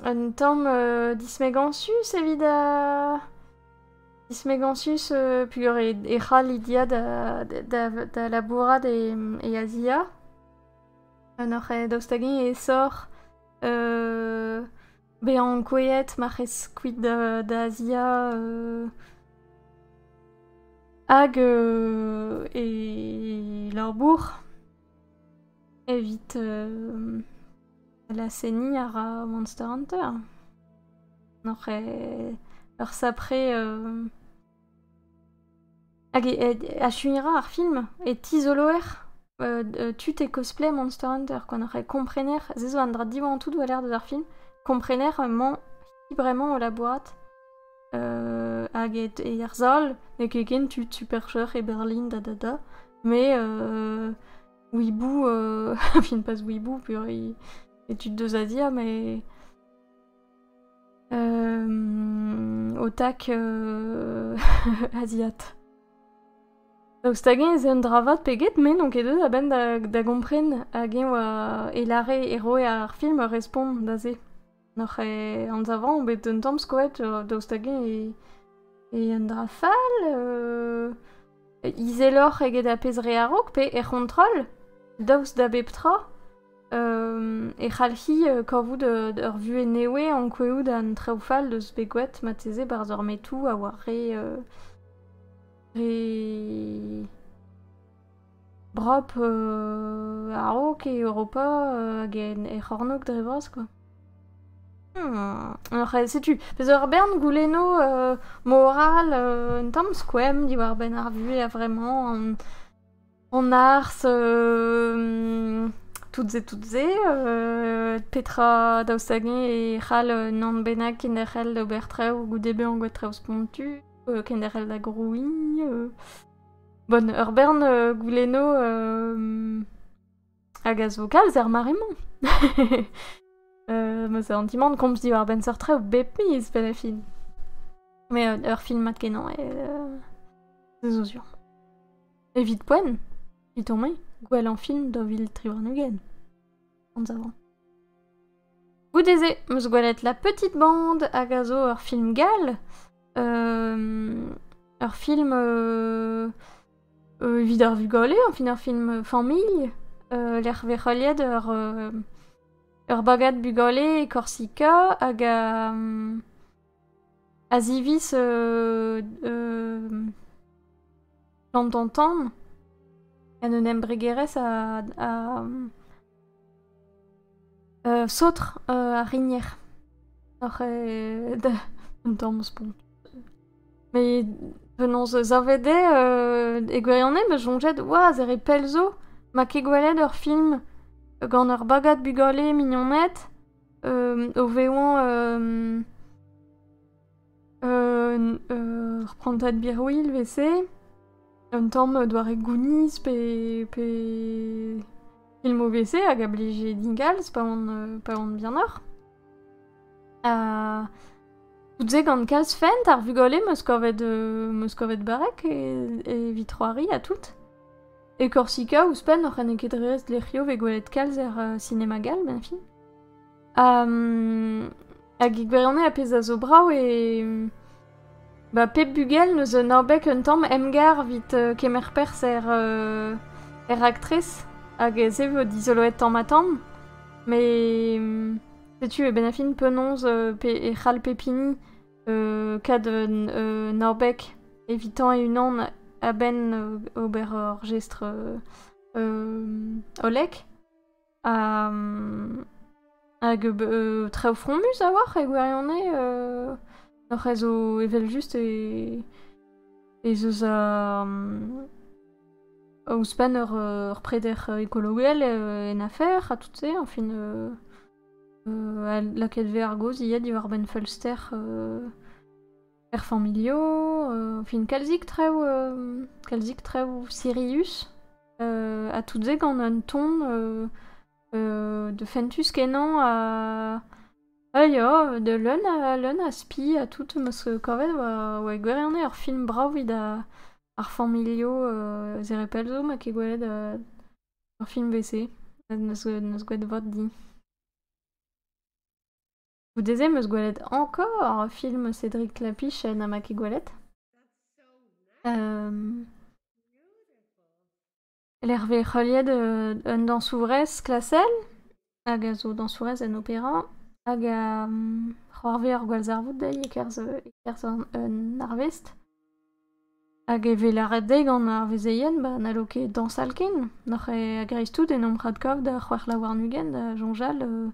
un tamm euh, dismegañsus evit uh, dismegañsus euh, pugur e, e c'hall Lydia da, da, da, da labourat e, e Azia. Ha noc'h eh, daoust hag-eñ e soc'h euh, Bezañ ankouaet marc'hez kuit da Azia hag e labour evit laz-seniñ a ra Monster Hunter. Oc'h ur sapre Hag achuiñ a ra ar film e tizoloer tud e cosplay Monster Hunter quoi. Donc e komprener, se zo un dra diwar an tout doa l'air deus ar film, komprener emañ qui bremañ o labourat hag e yerzhol, n'eo ket ken tud Supercheur e Berlin da da da, mais Weeboo, enfin pas Weeboo, pur e tud deus Azia, mais... Ho tak aziat. Daoust hag-eñ ez eo un dra vat pe get, me n'on ket deut a-benn da gompren hag-eñ oa e lâre e roe ar film ur respont da se. N'oc'h e anzavañ on bet un tamm skoet daoust hag-eñ eo un dra fall? izeloc'h eget ar pezh re a-raok pe er c'hontrol daoust da bep tra e c'hallfi kavout ur vuhez nev ankouaout an traoù fall deus bet graet marteze barzh ar metoù a oa re brop a-raok e Europa hag er c'hornôg dre vras quoi. Ah, setu, peus ur bern goulennoù euh, moral euh, un tamm skoemp diwar-benn ar vuhez a-vremañ, an, an ars, euh, toutes et toutes et, euh, petra daoust hag-eñ e c'hall un anv bennak kenderc'hel d'ober traoù goude bezañ anvet traoù spontu, euh, kenderc'hel da grouiñ, euh. Bon, ur bern euh, goulennoù euh, Hag a zo galz er mare-mañ. euh, ma an dimant komz diwar-benn seurt traoù bep miz, pe da fin. Mais euh, ur film mat-kenañ, euh, c'est zo sur. Evit poen, it omé, gwell an film da vil tri warn-ugent. Anzav. Goude-se, 'm eus gwelet La Petite Bande, hag a zo ur film gall. Euh, ur film euh, euh, evit ar vugale, enfin ur film familh, euh, lec'h vec'holiet ur, euh, ur bagad bugale e Korsika, hag a, mm, a ziviz euh, euh, Gant an tan En un embregerezh a... a uh, saotr uh, ar rinier. Oc'h e... Da... Un tamm spont. Mais penaos savet eo euh, e gwirionez be soñjet waz ere pell zo ma ket gwelet ur film gant ur bagad bugale mignoned euh, o vezañ euh, ur prantad birwil evese, un tamm doare Goonies pe, pe film OVC hag a blije dingalz pa on, pa on bihanoc'h. Ha tout se gant kalz fent, ar vugale meus kavet, euh, meus kavet barrek e, e evit c'hoari ha tout. E Korsika, ouzhpenn, oc'h ene ket ret lec'hio ve gwelet kalz er uh, sinema gal, ben fin. hag e gwirionez ar pezh a zo brav eo ba pep bugel 'neus un abeg un tamm emgar 'vit kemer perzh er er raktres hag se vo dizoloet tamm-ha-tamm met setu e benn-ar-fin penaos e c'hall pep hini kad un abeg evitañ e-unan a-benn ober ur jestr hollek. Hag traoù fromus a-walc'h e gwirionez. N'oc'h a zo evel-just ez eus ouzhpenn ur preder ekologel en afer ha tout-se. Añfin lakaet 'vez ar gaoz ivez diwar-benn feulster Er familho, fin kalzik traoù kalzik traoù sirius ha tout se gant un ton de fentus kenañ ha a ya da leun a leun a spi ha tout 'm eus kavet oa oa e gwirionez ur film brav evit ar familho Zerepel zo ma ket gwelet ur film 'vez-se n'eus n'eus gwelet vat din. Goude-se 'm eus gwelet encore film Cédric Lapichenn ha ma ket gwelet. Hem, lec'h vez heuliet euh, un dañsourez klasel hag a zo dañsourez en opéra hag a mm, c'hoarvez ar gwallzarvoud dezhi e-kerzh euh, e-kerzh an- un arvest. Hag e vez lâret dezhi gant ar vezeien ba n'hallo ket dañsal ken. N'oc'h ket a-greiz-tout en omp radkov da c'hwec'h la warn-ugent da soñjal euh,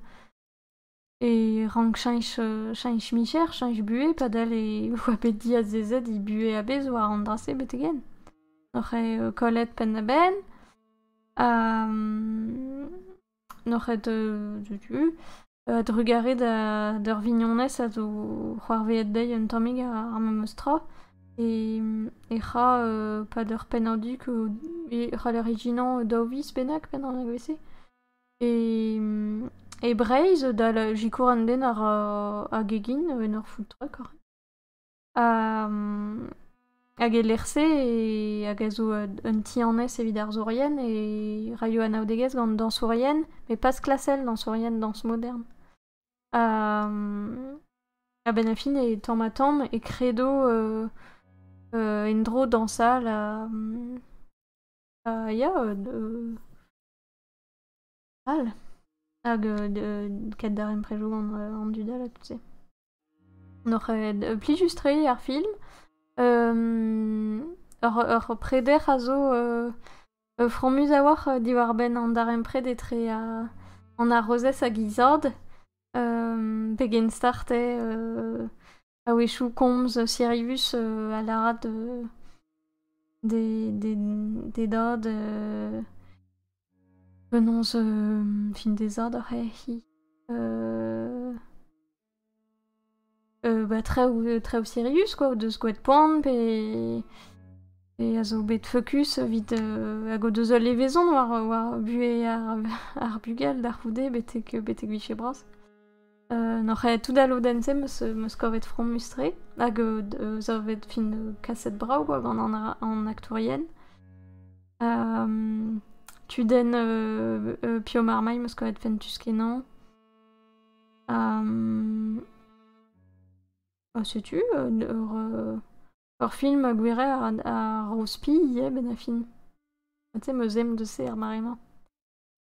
E rank cheñch cheñch micher, cheñch buhez padal e oa bet diazezet he buhez a-bezh war an dra-se betek-henn. N'oc'h ket kollet penn-da-benn ha n'oc'h ket setu a-drugarez d'ur vignonez a zo c'hoarvezet dezhi un tammig ar memes tra e c'hra pad ur pennad du e c'hall ur ijinañ daou viz bennak penn an negozh-se. E Breizh, dal sikour an den ar ar gegin en ur food-truck oc'h. Hag e lec'h-se hag a zo un ti-annez evit arzourien e raio anaoudegezh gant dañsourien met pas klasel dañsourien dañs modern. A-benn a fin e tamm-ha-tamm e kredo en-dro dañsal ha ya d- All hag ket darempredoù an dud all ha tout-se. N'oc'h ket plijus-tre ar film. Ur preder a zo fromus a-walc'h diwar-benn an darempred etre an arozez hag he zad. Pegen start eo? A-wechoù komz Sirius a lâra d'e dad penaos fin d'e zad oc'h ec'hi ba traoù Sirius quoi o deus gwraet poan pe a zo bet fokus evit hag o deus ul levezon war buhez ar bugel da c'houde betek betek 'vije bras. N'oc'h aet tout da lodenn-se am eus kavet fromus-tre hag savet fin kaset brav kwa gant an aktourien. Kudenn Pio Marmay am eus kavet fentus-kenañ. Setu ur film a gouezher a ro spi ivez benn ar fin. Ha tu 'm eus aimp deus se er mare-mañ.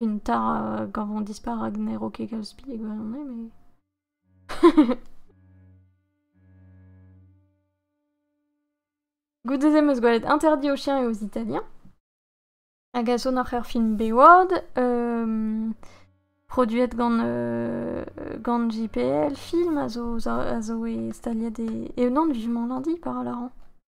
Une tare quand on disparaît n'ero ket kalz spi e gwirionez, mais... Goude-se 'm eus gwelet Interdit aux chiens et aux Italiens, hag a son oc'h ur film Bayward, euh, produet gant, euh, gant JPL Film, a zo, a zo e staliet e... E non, vivement lundi, par Laran.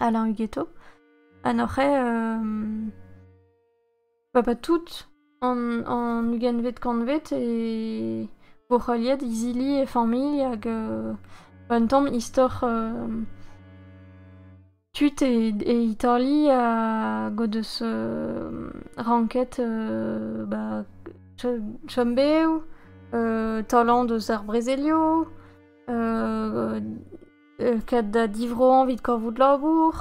Alain Guéto, ha n'oc'h ket papat tout an an ugentvet kantved e vo heuliet izili e familh hag un tamm istor tud e e Itali hag o deus ranket ba chombev, talant eus ar brezelioù, ket da divroañ evit kavout labour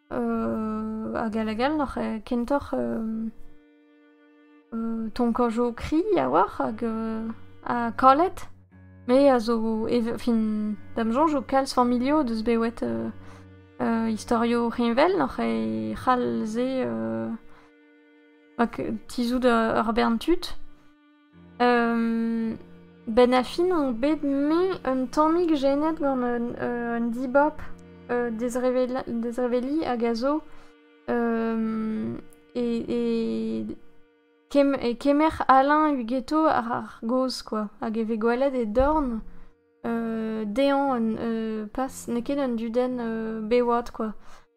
hag all hag all oc'h kentoc'h tonkañ jo kri a-walc'h hag ha kalet me a zo fin da'm soñj eo kalz familhoù o deus bet wet istorioù heñvel oc'h c'hall se tizhout ur bern tud. Benn ar fin on bet me un tammig jenet gant un un dibab dezreveliñ hag a zo e e kemm e kemer Alain Hugueto àr ar gaoz kwa hag e vez gwelet e dorn dezhañ un pas n'eo ket un dudenn bewad kwa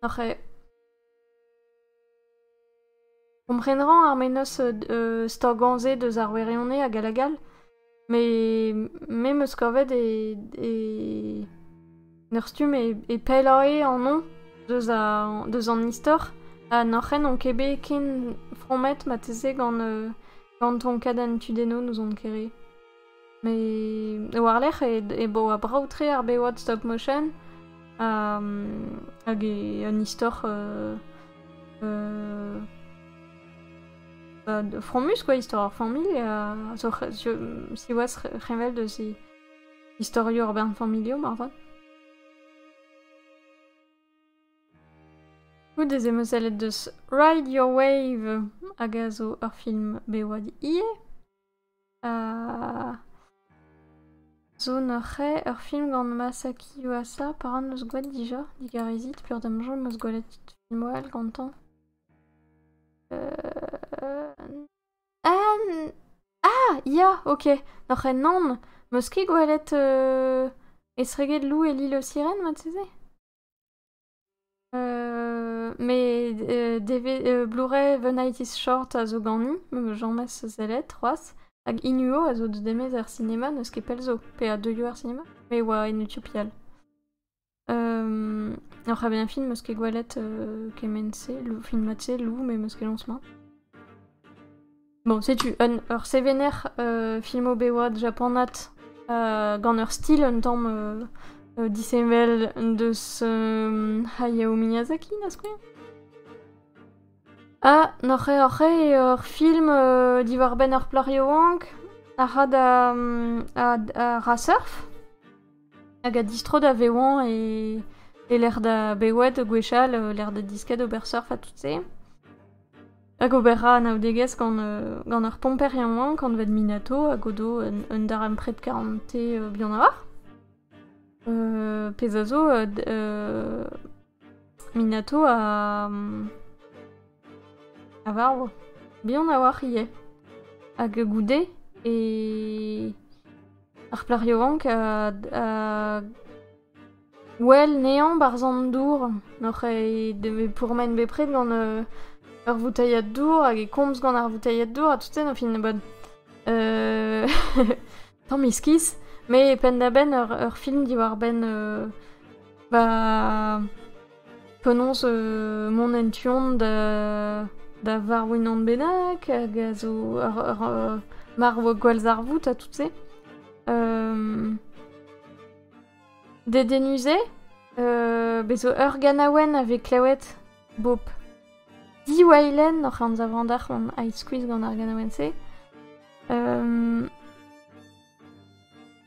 oc'h e Kompren 'rañ ar mennozh stagañ-se deus ar wirionez hag all hag all met me 'm eus kavet e e en ur stumm e pellae anv deus a- deus an istor ha nac'hen on ket bet ken fromet marteze gant gant tonkadenn tudennoù n'ouzon ket re. Met war-lerc'h e boa brav-tre ar bewad stop motion hag un istor fromus quoi, istor ar familh zo siwazh c'heñvel deus he istorioù ar bern-familhoù moarvat. Goude ez emo sellet deus Ride Your Wave hag a zo ur film bewad ivez. zo neuze ur film gant Masaki Yuasa pa ran eus gwad dija digarezit peur da'm soñj 'm eus gwelet filmoù all gantañ ah ya ok neuze nann 'm eus ket gwelet estreget Lou et l'île aux sirènes marteze Mes deve- Blu-ray Venitis Short a zo ganin, james sellet c'hoazh, hag Inuo a zo deus demez er sinema, n'eus ket pell zo, pe a deuio er sinema, me oa en Utopia. oc'h avezañ film 'meus ket gwelet kement-se, film mat-se, lou, met 'meus ket lañs mat. Bon, setu un, ur sevener euh, filmobeoat japanat euh, gant ur stil un tamm euh, euh, disheñvel deus euh, Hayao Miyazaki, da skouer. Ha n'oc'h oc'h ur film euh, diwar-benn ur plac'h yaouank a ra da a, ra surf hag a distro da vewan e, e lec'h da bewet gwechall, lec'h da disket ober surf ha tout se. Hag ober ra anaoudegezh gant, gant ur pomper yaouank anvet Minato hag o do un, un darempred karante bihan a-walc'h. pezh a zo, Minato a, a varv. Bihan a-walc'h ivez. Hag goude e... ar plac'h yaouank a, a Wel, ne'añ 'barzh an dour hoc'h eo pourmen bepred gant ur voutailhad dour hag e komz gant ar voutailhad dour ha tout-se, au final, tamm iskis. Met penn-da-benn ur film diwar-benn ba penaos mont en tu-hont da varw-unan bennak hag a zo ur marv gwallzarvoud ha tout-se. Dedennus-se euh, bez zo ur ganaouenn a vez klevet bob. Diwallenn oc'h anzav andarc'h on ae skuizh gant ar ganaouenn-se. Um,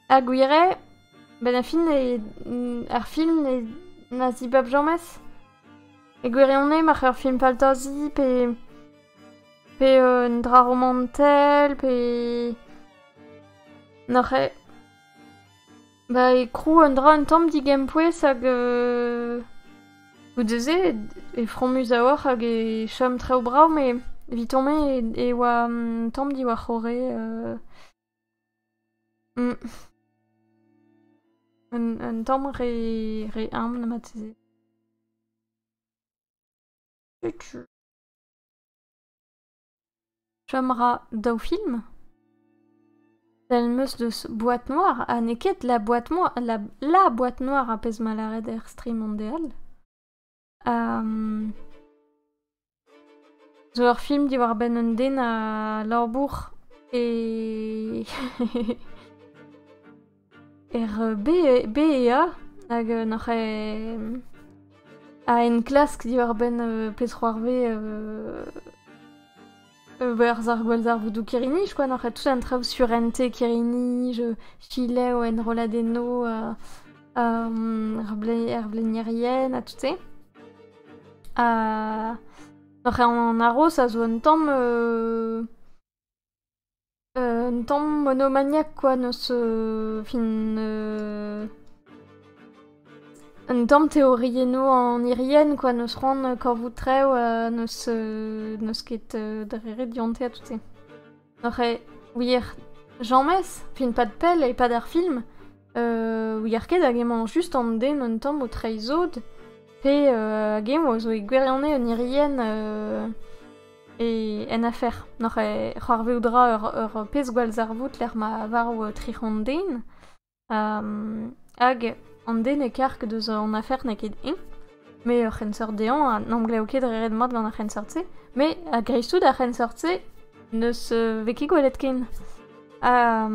ha gwir eo, ben ar film ne, ar film ne, na zibab james. E gwirionez, marc'h ur film faltazi pe pe un dra romantel pe... Noc'h eo Ba e krou un dra un tamm digempouez hag goude-se e fromus a-walc'h hag e chom traoù brav met evitañ-me e oa un tamm diwar-c'horre un tamm re re humbl marteze. Setu. Chom 'ra daou film ? Sell 'm eus deus boîte noire ha n'eo ket la boîte noire, la, la boîte noire ar pezh 'mañ lâret er streaming-de all. Zo ur film diwar-benn un den a labour e... Er BEA hag noc'h a enklask diwar-benn pezh-c'hoarvez berzh ar gwallzarvoudoù Kiriniz kwa noc'h tout an traoù sur ente Kiriniz, Chilev, enrolladennoù, ar blenierien ha tout-se. Ha noc'h an aroz a zo un tamm Un tamm monomaniac kwa n'eus fin un tamm teoriennoù an irienn kwa n'eus c'hoant korvout traoù n'eus n'eus ket dre ret dionte ha tout-se. N'oc'h ket wir james, fin pad pell e-pad ar film, ouier ket hag emañ just an den un tamm o treiñ sod pe hag eñ a zo e gwirionez un irienn e en afer n'oc'h c'hoarvezout ra ur, ur pezh gwallzarvoud lec'h ma varv tric'hon den hag an den e karg deus an afer n'eo ket eñ met ur c'henseurt dezhañ ha n'emglev ket re ret mat gant ar c'henseurt-se met a-greiz-tout ar c'henseurt-se n'eus vez ket gwelet ken ha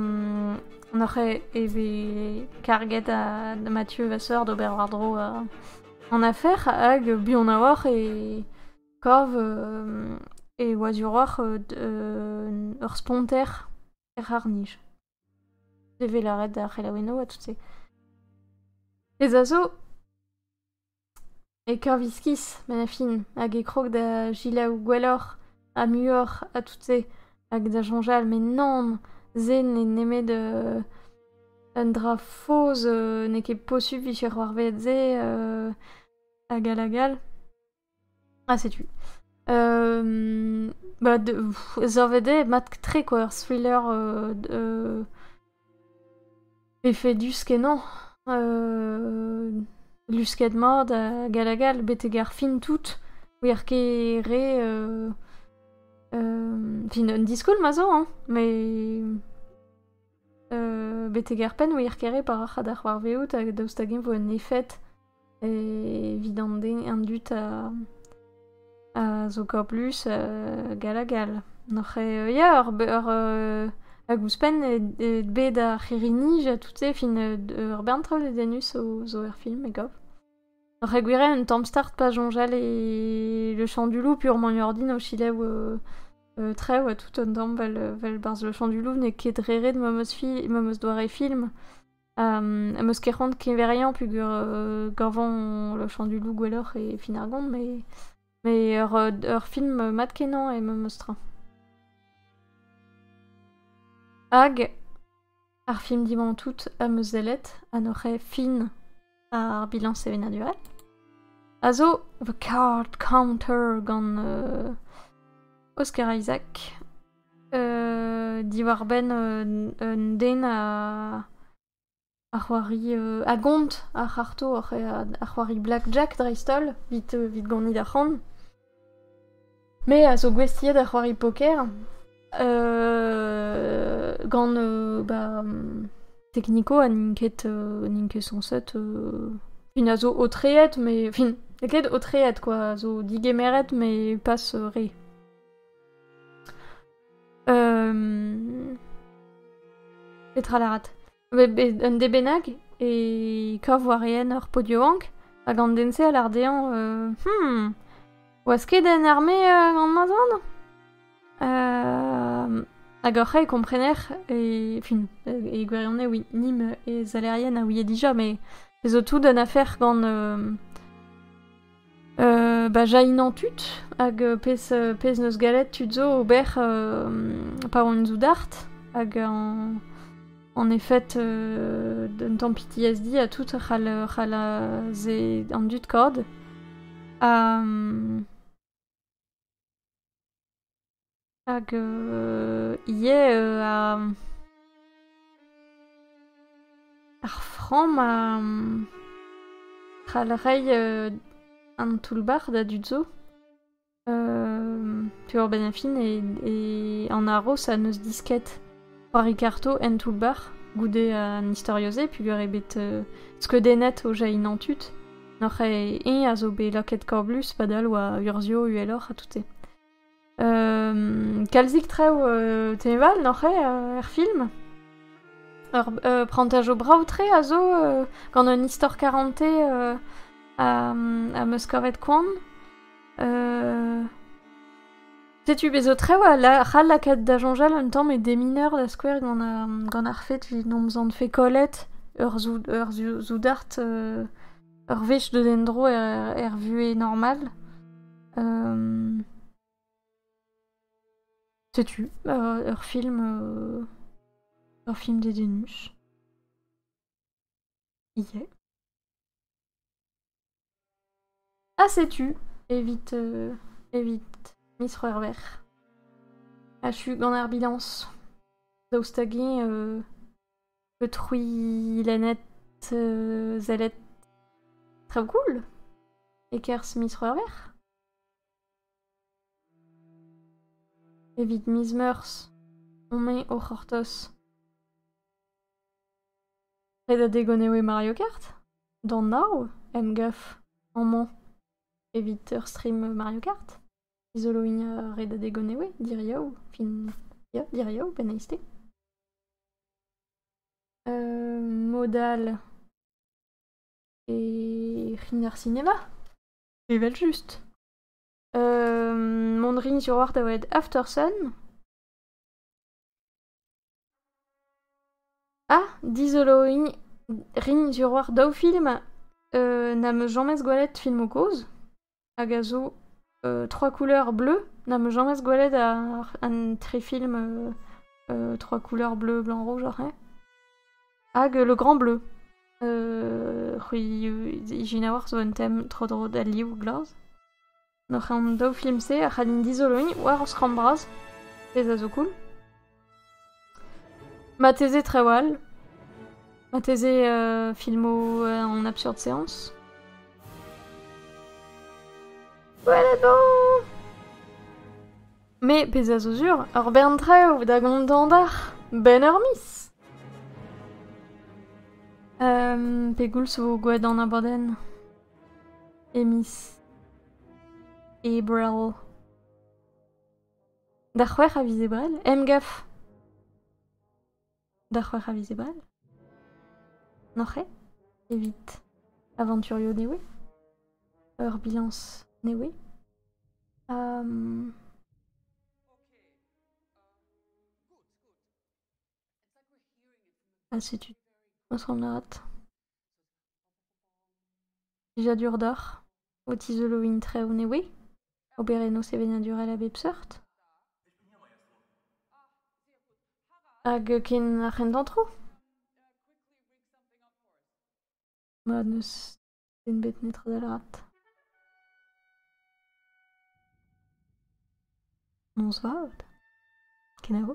n'oc'h e vez karget da Mathieu Vasseur d'ober war-dro an afer hag buan a-walc'h e Kav e oa duroc'h ur sponter er c'harr-nij. Devez lâret d'ar c'helaouennoù ha tout-se. Pezh a zo, e kav iskis manafin hag e krog da gelaou gwelloc'h ha muioc'h ha tout-se hag da soñjal met nann, se n'eo nemet un dra faos, n'eo ket posupl 'vije c'hoarvezet se hag all hag all. Ah, setu. Euh, bah, de, Zorvede est mat-tre, quoi. Ur thriller euh, de, effet du skenon. Euh, lusket mord a galagal, betek ar fin tout. Wir ket re... Euh, euh, fin un diskol ma zo, hein. Mais... betek ar penn wir kere pa ra da c'hoarvezout hag daoust hag-eñ vo un efed evit an den an dud a zo kablus gall ha gall n'oc'h ya hag ouzhpenn bet ar c'hirri-nij ha tout-se fin ur bern traoù dedennus zo er film e gav Re gwiriañ, un tamm start pa soñjal e le champ du loup purement ordin o selaou euh, traoù ha tout un tamm vel, vel barzh le champ du loup n'eo ket re ret ma 'm eus fi- ma 'm eus doare film. Am eus ket c'hoant keñveriañ peogwir euh, gañvañ le champ du loup gwelloc'h e fin ar gont, mais Mais ur film mat-kenañ eo memestra. Hag ar film dimanche tout am eus sellet ha n'oc'h fin ar bilan sevenadurel a zo The Card Counter gant uh, Oscar Isaac uh, diwar-benn un den a Ar c'hoari euh, a gont, ar c'harto, ar c'h- ar ar c'hoari blackjack dreist-holl, 'vit euh, 'vit gonit arc'hant. Me a zo gouestiet da c'hoari poker euh, gant euh, ba Technico ha n'int ket euh, n'int ket sañset euh, un a zo aotreet mais fin n'eo ket aotreet quoi, a zo digemeret mais pas euh, re. Petra lârat? Un dez bennak e kav warien ur pod yaouank hag an den-se a lâr dezhañ hmm, oas ket en arme gant ma zad? Hag hoc'h e komprener e fin e gwirionez oui nim e zalerien a ouie dija, met ez zo tout un afer gant Ba jailhinañ tud hag pezh 'neus gallet tud zo ober pa oant soudard hag en efed d'un tamm PTSD ha tout c'hall se an dud kaout. Hag ivez ar framm a c'hall reiñ an toull-bac'h da dud zo. Diwar-benn ar fin an haroz a neus disket c'hoari karto en toull-bac'h goude an istorio-se peogwir eo bet skeudennet o jainañ tud. N'oc'h ket eñ a zo bet lakaet korblus padal oa urzhio uheloc'h ha tout-se. Kalzik traoù teñval oc'h eo er film. Ur prantaj brav-tre a zo gant un istor karante am eus kavet koan. Setu bez' zo traoù c'hall lakaat da soñjal un tamm e demineur da skouer gant ar fed evit hom zant-fe kollet ur soudard ur wech deus en-dro er vuhez normal. setu, ur film ur film dedennus. Yeah. Ah, setu, évite, euh, évite Miss Rerver. Ah, je suis en ambulance. Daoustagi, euh, Peut c'hwilennet euh, zellet Trabgoul e-kerzh miz C'hwec'hver Evit miz Meurzh on me o c'hortoz. Ret a degon eo e Mario Kart? D'an nav emgav amañ evit ur stream Mario Kart? Izoloin ret a degon eo, diriou, fin... ya, diriou, ben eizte. Mod all e rin ar sinema, evel-just. mont rin sur oc'h da welet Aftersun. Ha dizoloiñ rin sur oc'h daou film na 'm eus james gwelet filmoù kozh. Hag a zo trois couleurs bleues. N'am eus james gwelet an tri film trois couleurs bleues, blanc, rouge, ret. Hag le grand bleu. c'hwi ijinaouac'h zo un tem tro-dro d'al liv glas. An daou film-se a c'hallin dizoloiñ war ur skramm bras, pezh a zo cool. Marteze trawal. Marteze euh, filmoù euh, en absurde séance. Voilà donc Mais pezh a zo sur, ur bern traoù da gontañ d'ar ben ur miz. Um, pegoulz vo gwelet an abadenn? E miz Ebrel. Da c'hwec'h a viz Ebrel Emgav Da c'hwec'h a viz Ebrel N'oc'h ket evit avanturio newe Ur bilañs newe Ha setu asant lâret. Plijadur deoc'h o tizoloin traoù nevez, oberennoù sevenadurel a bep seurt hag ken ar c'hendantroù? Ma n'eus den bet netra da lâret. Bonsoir, kenavo.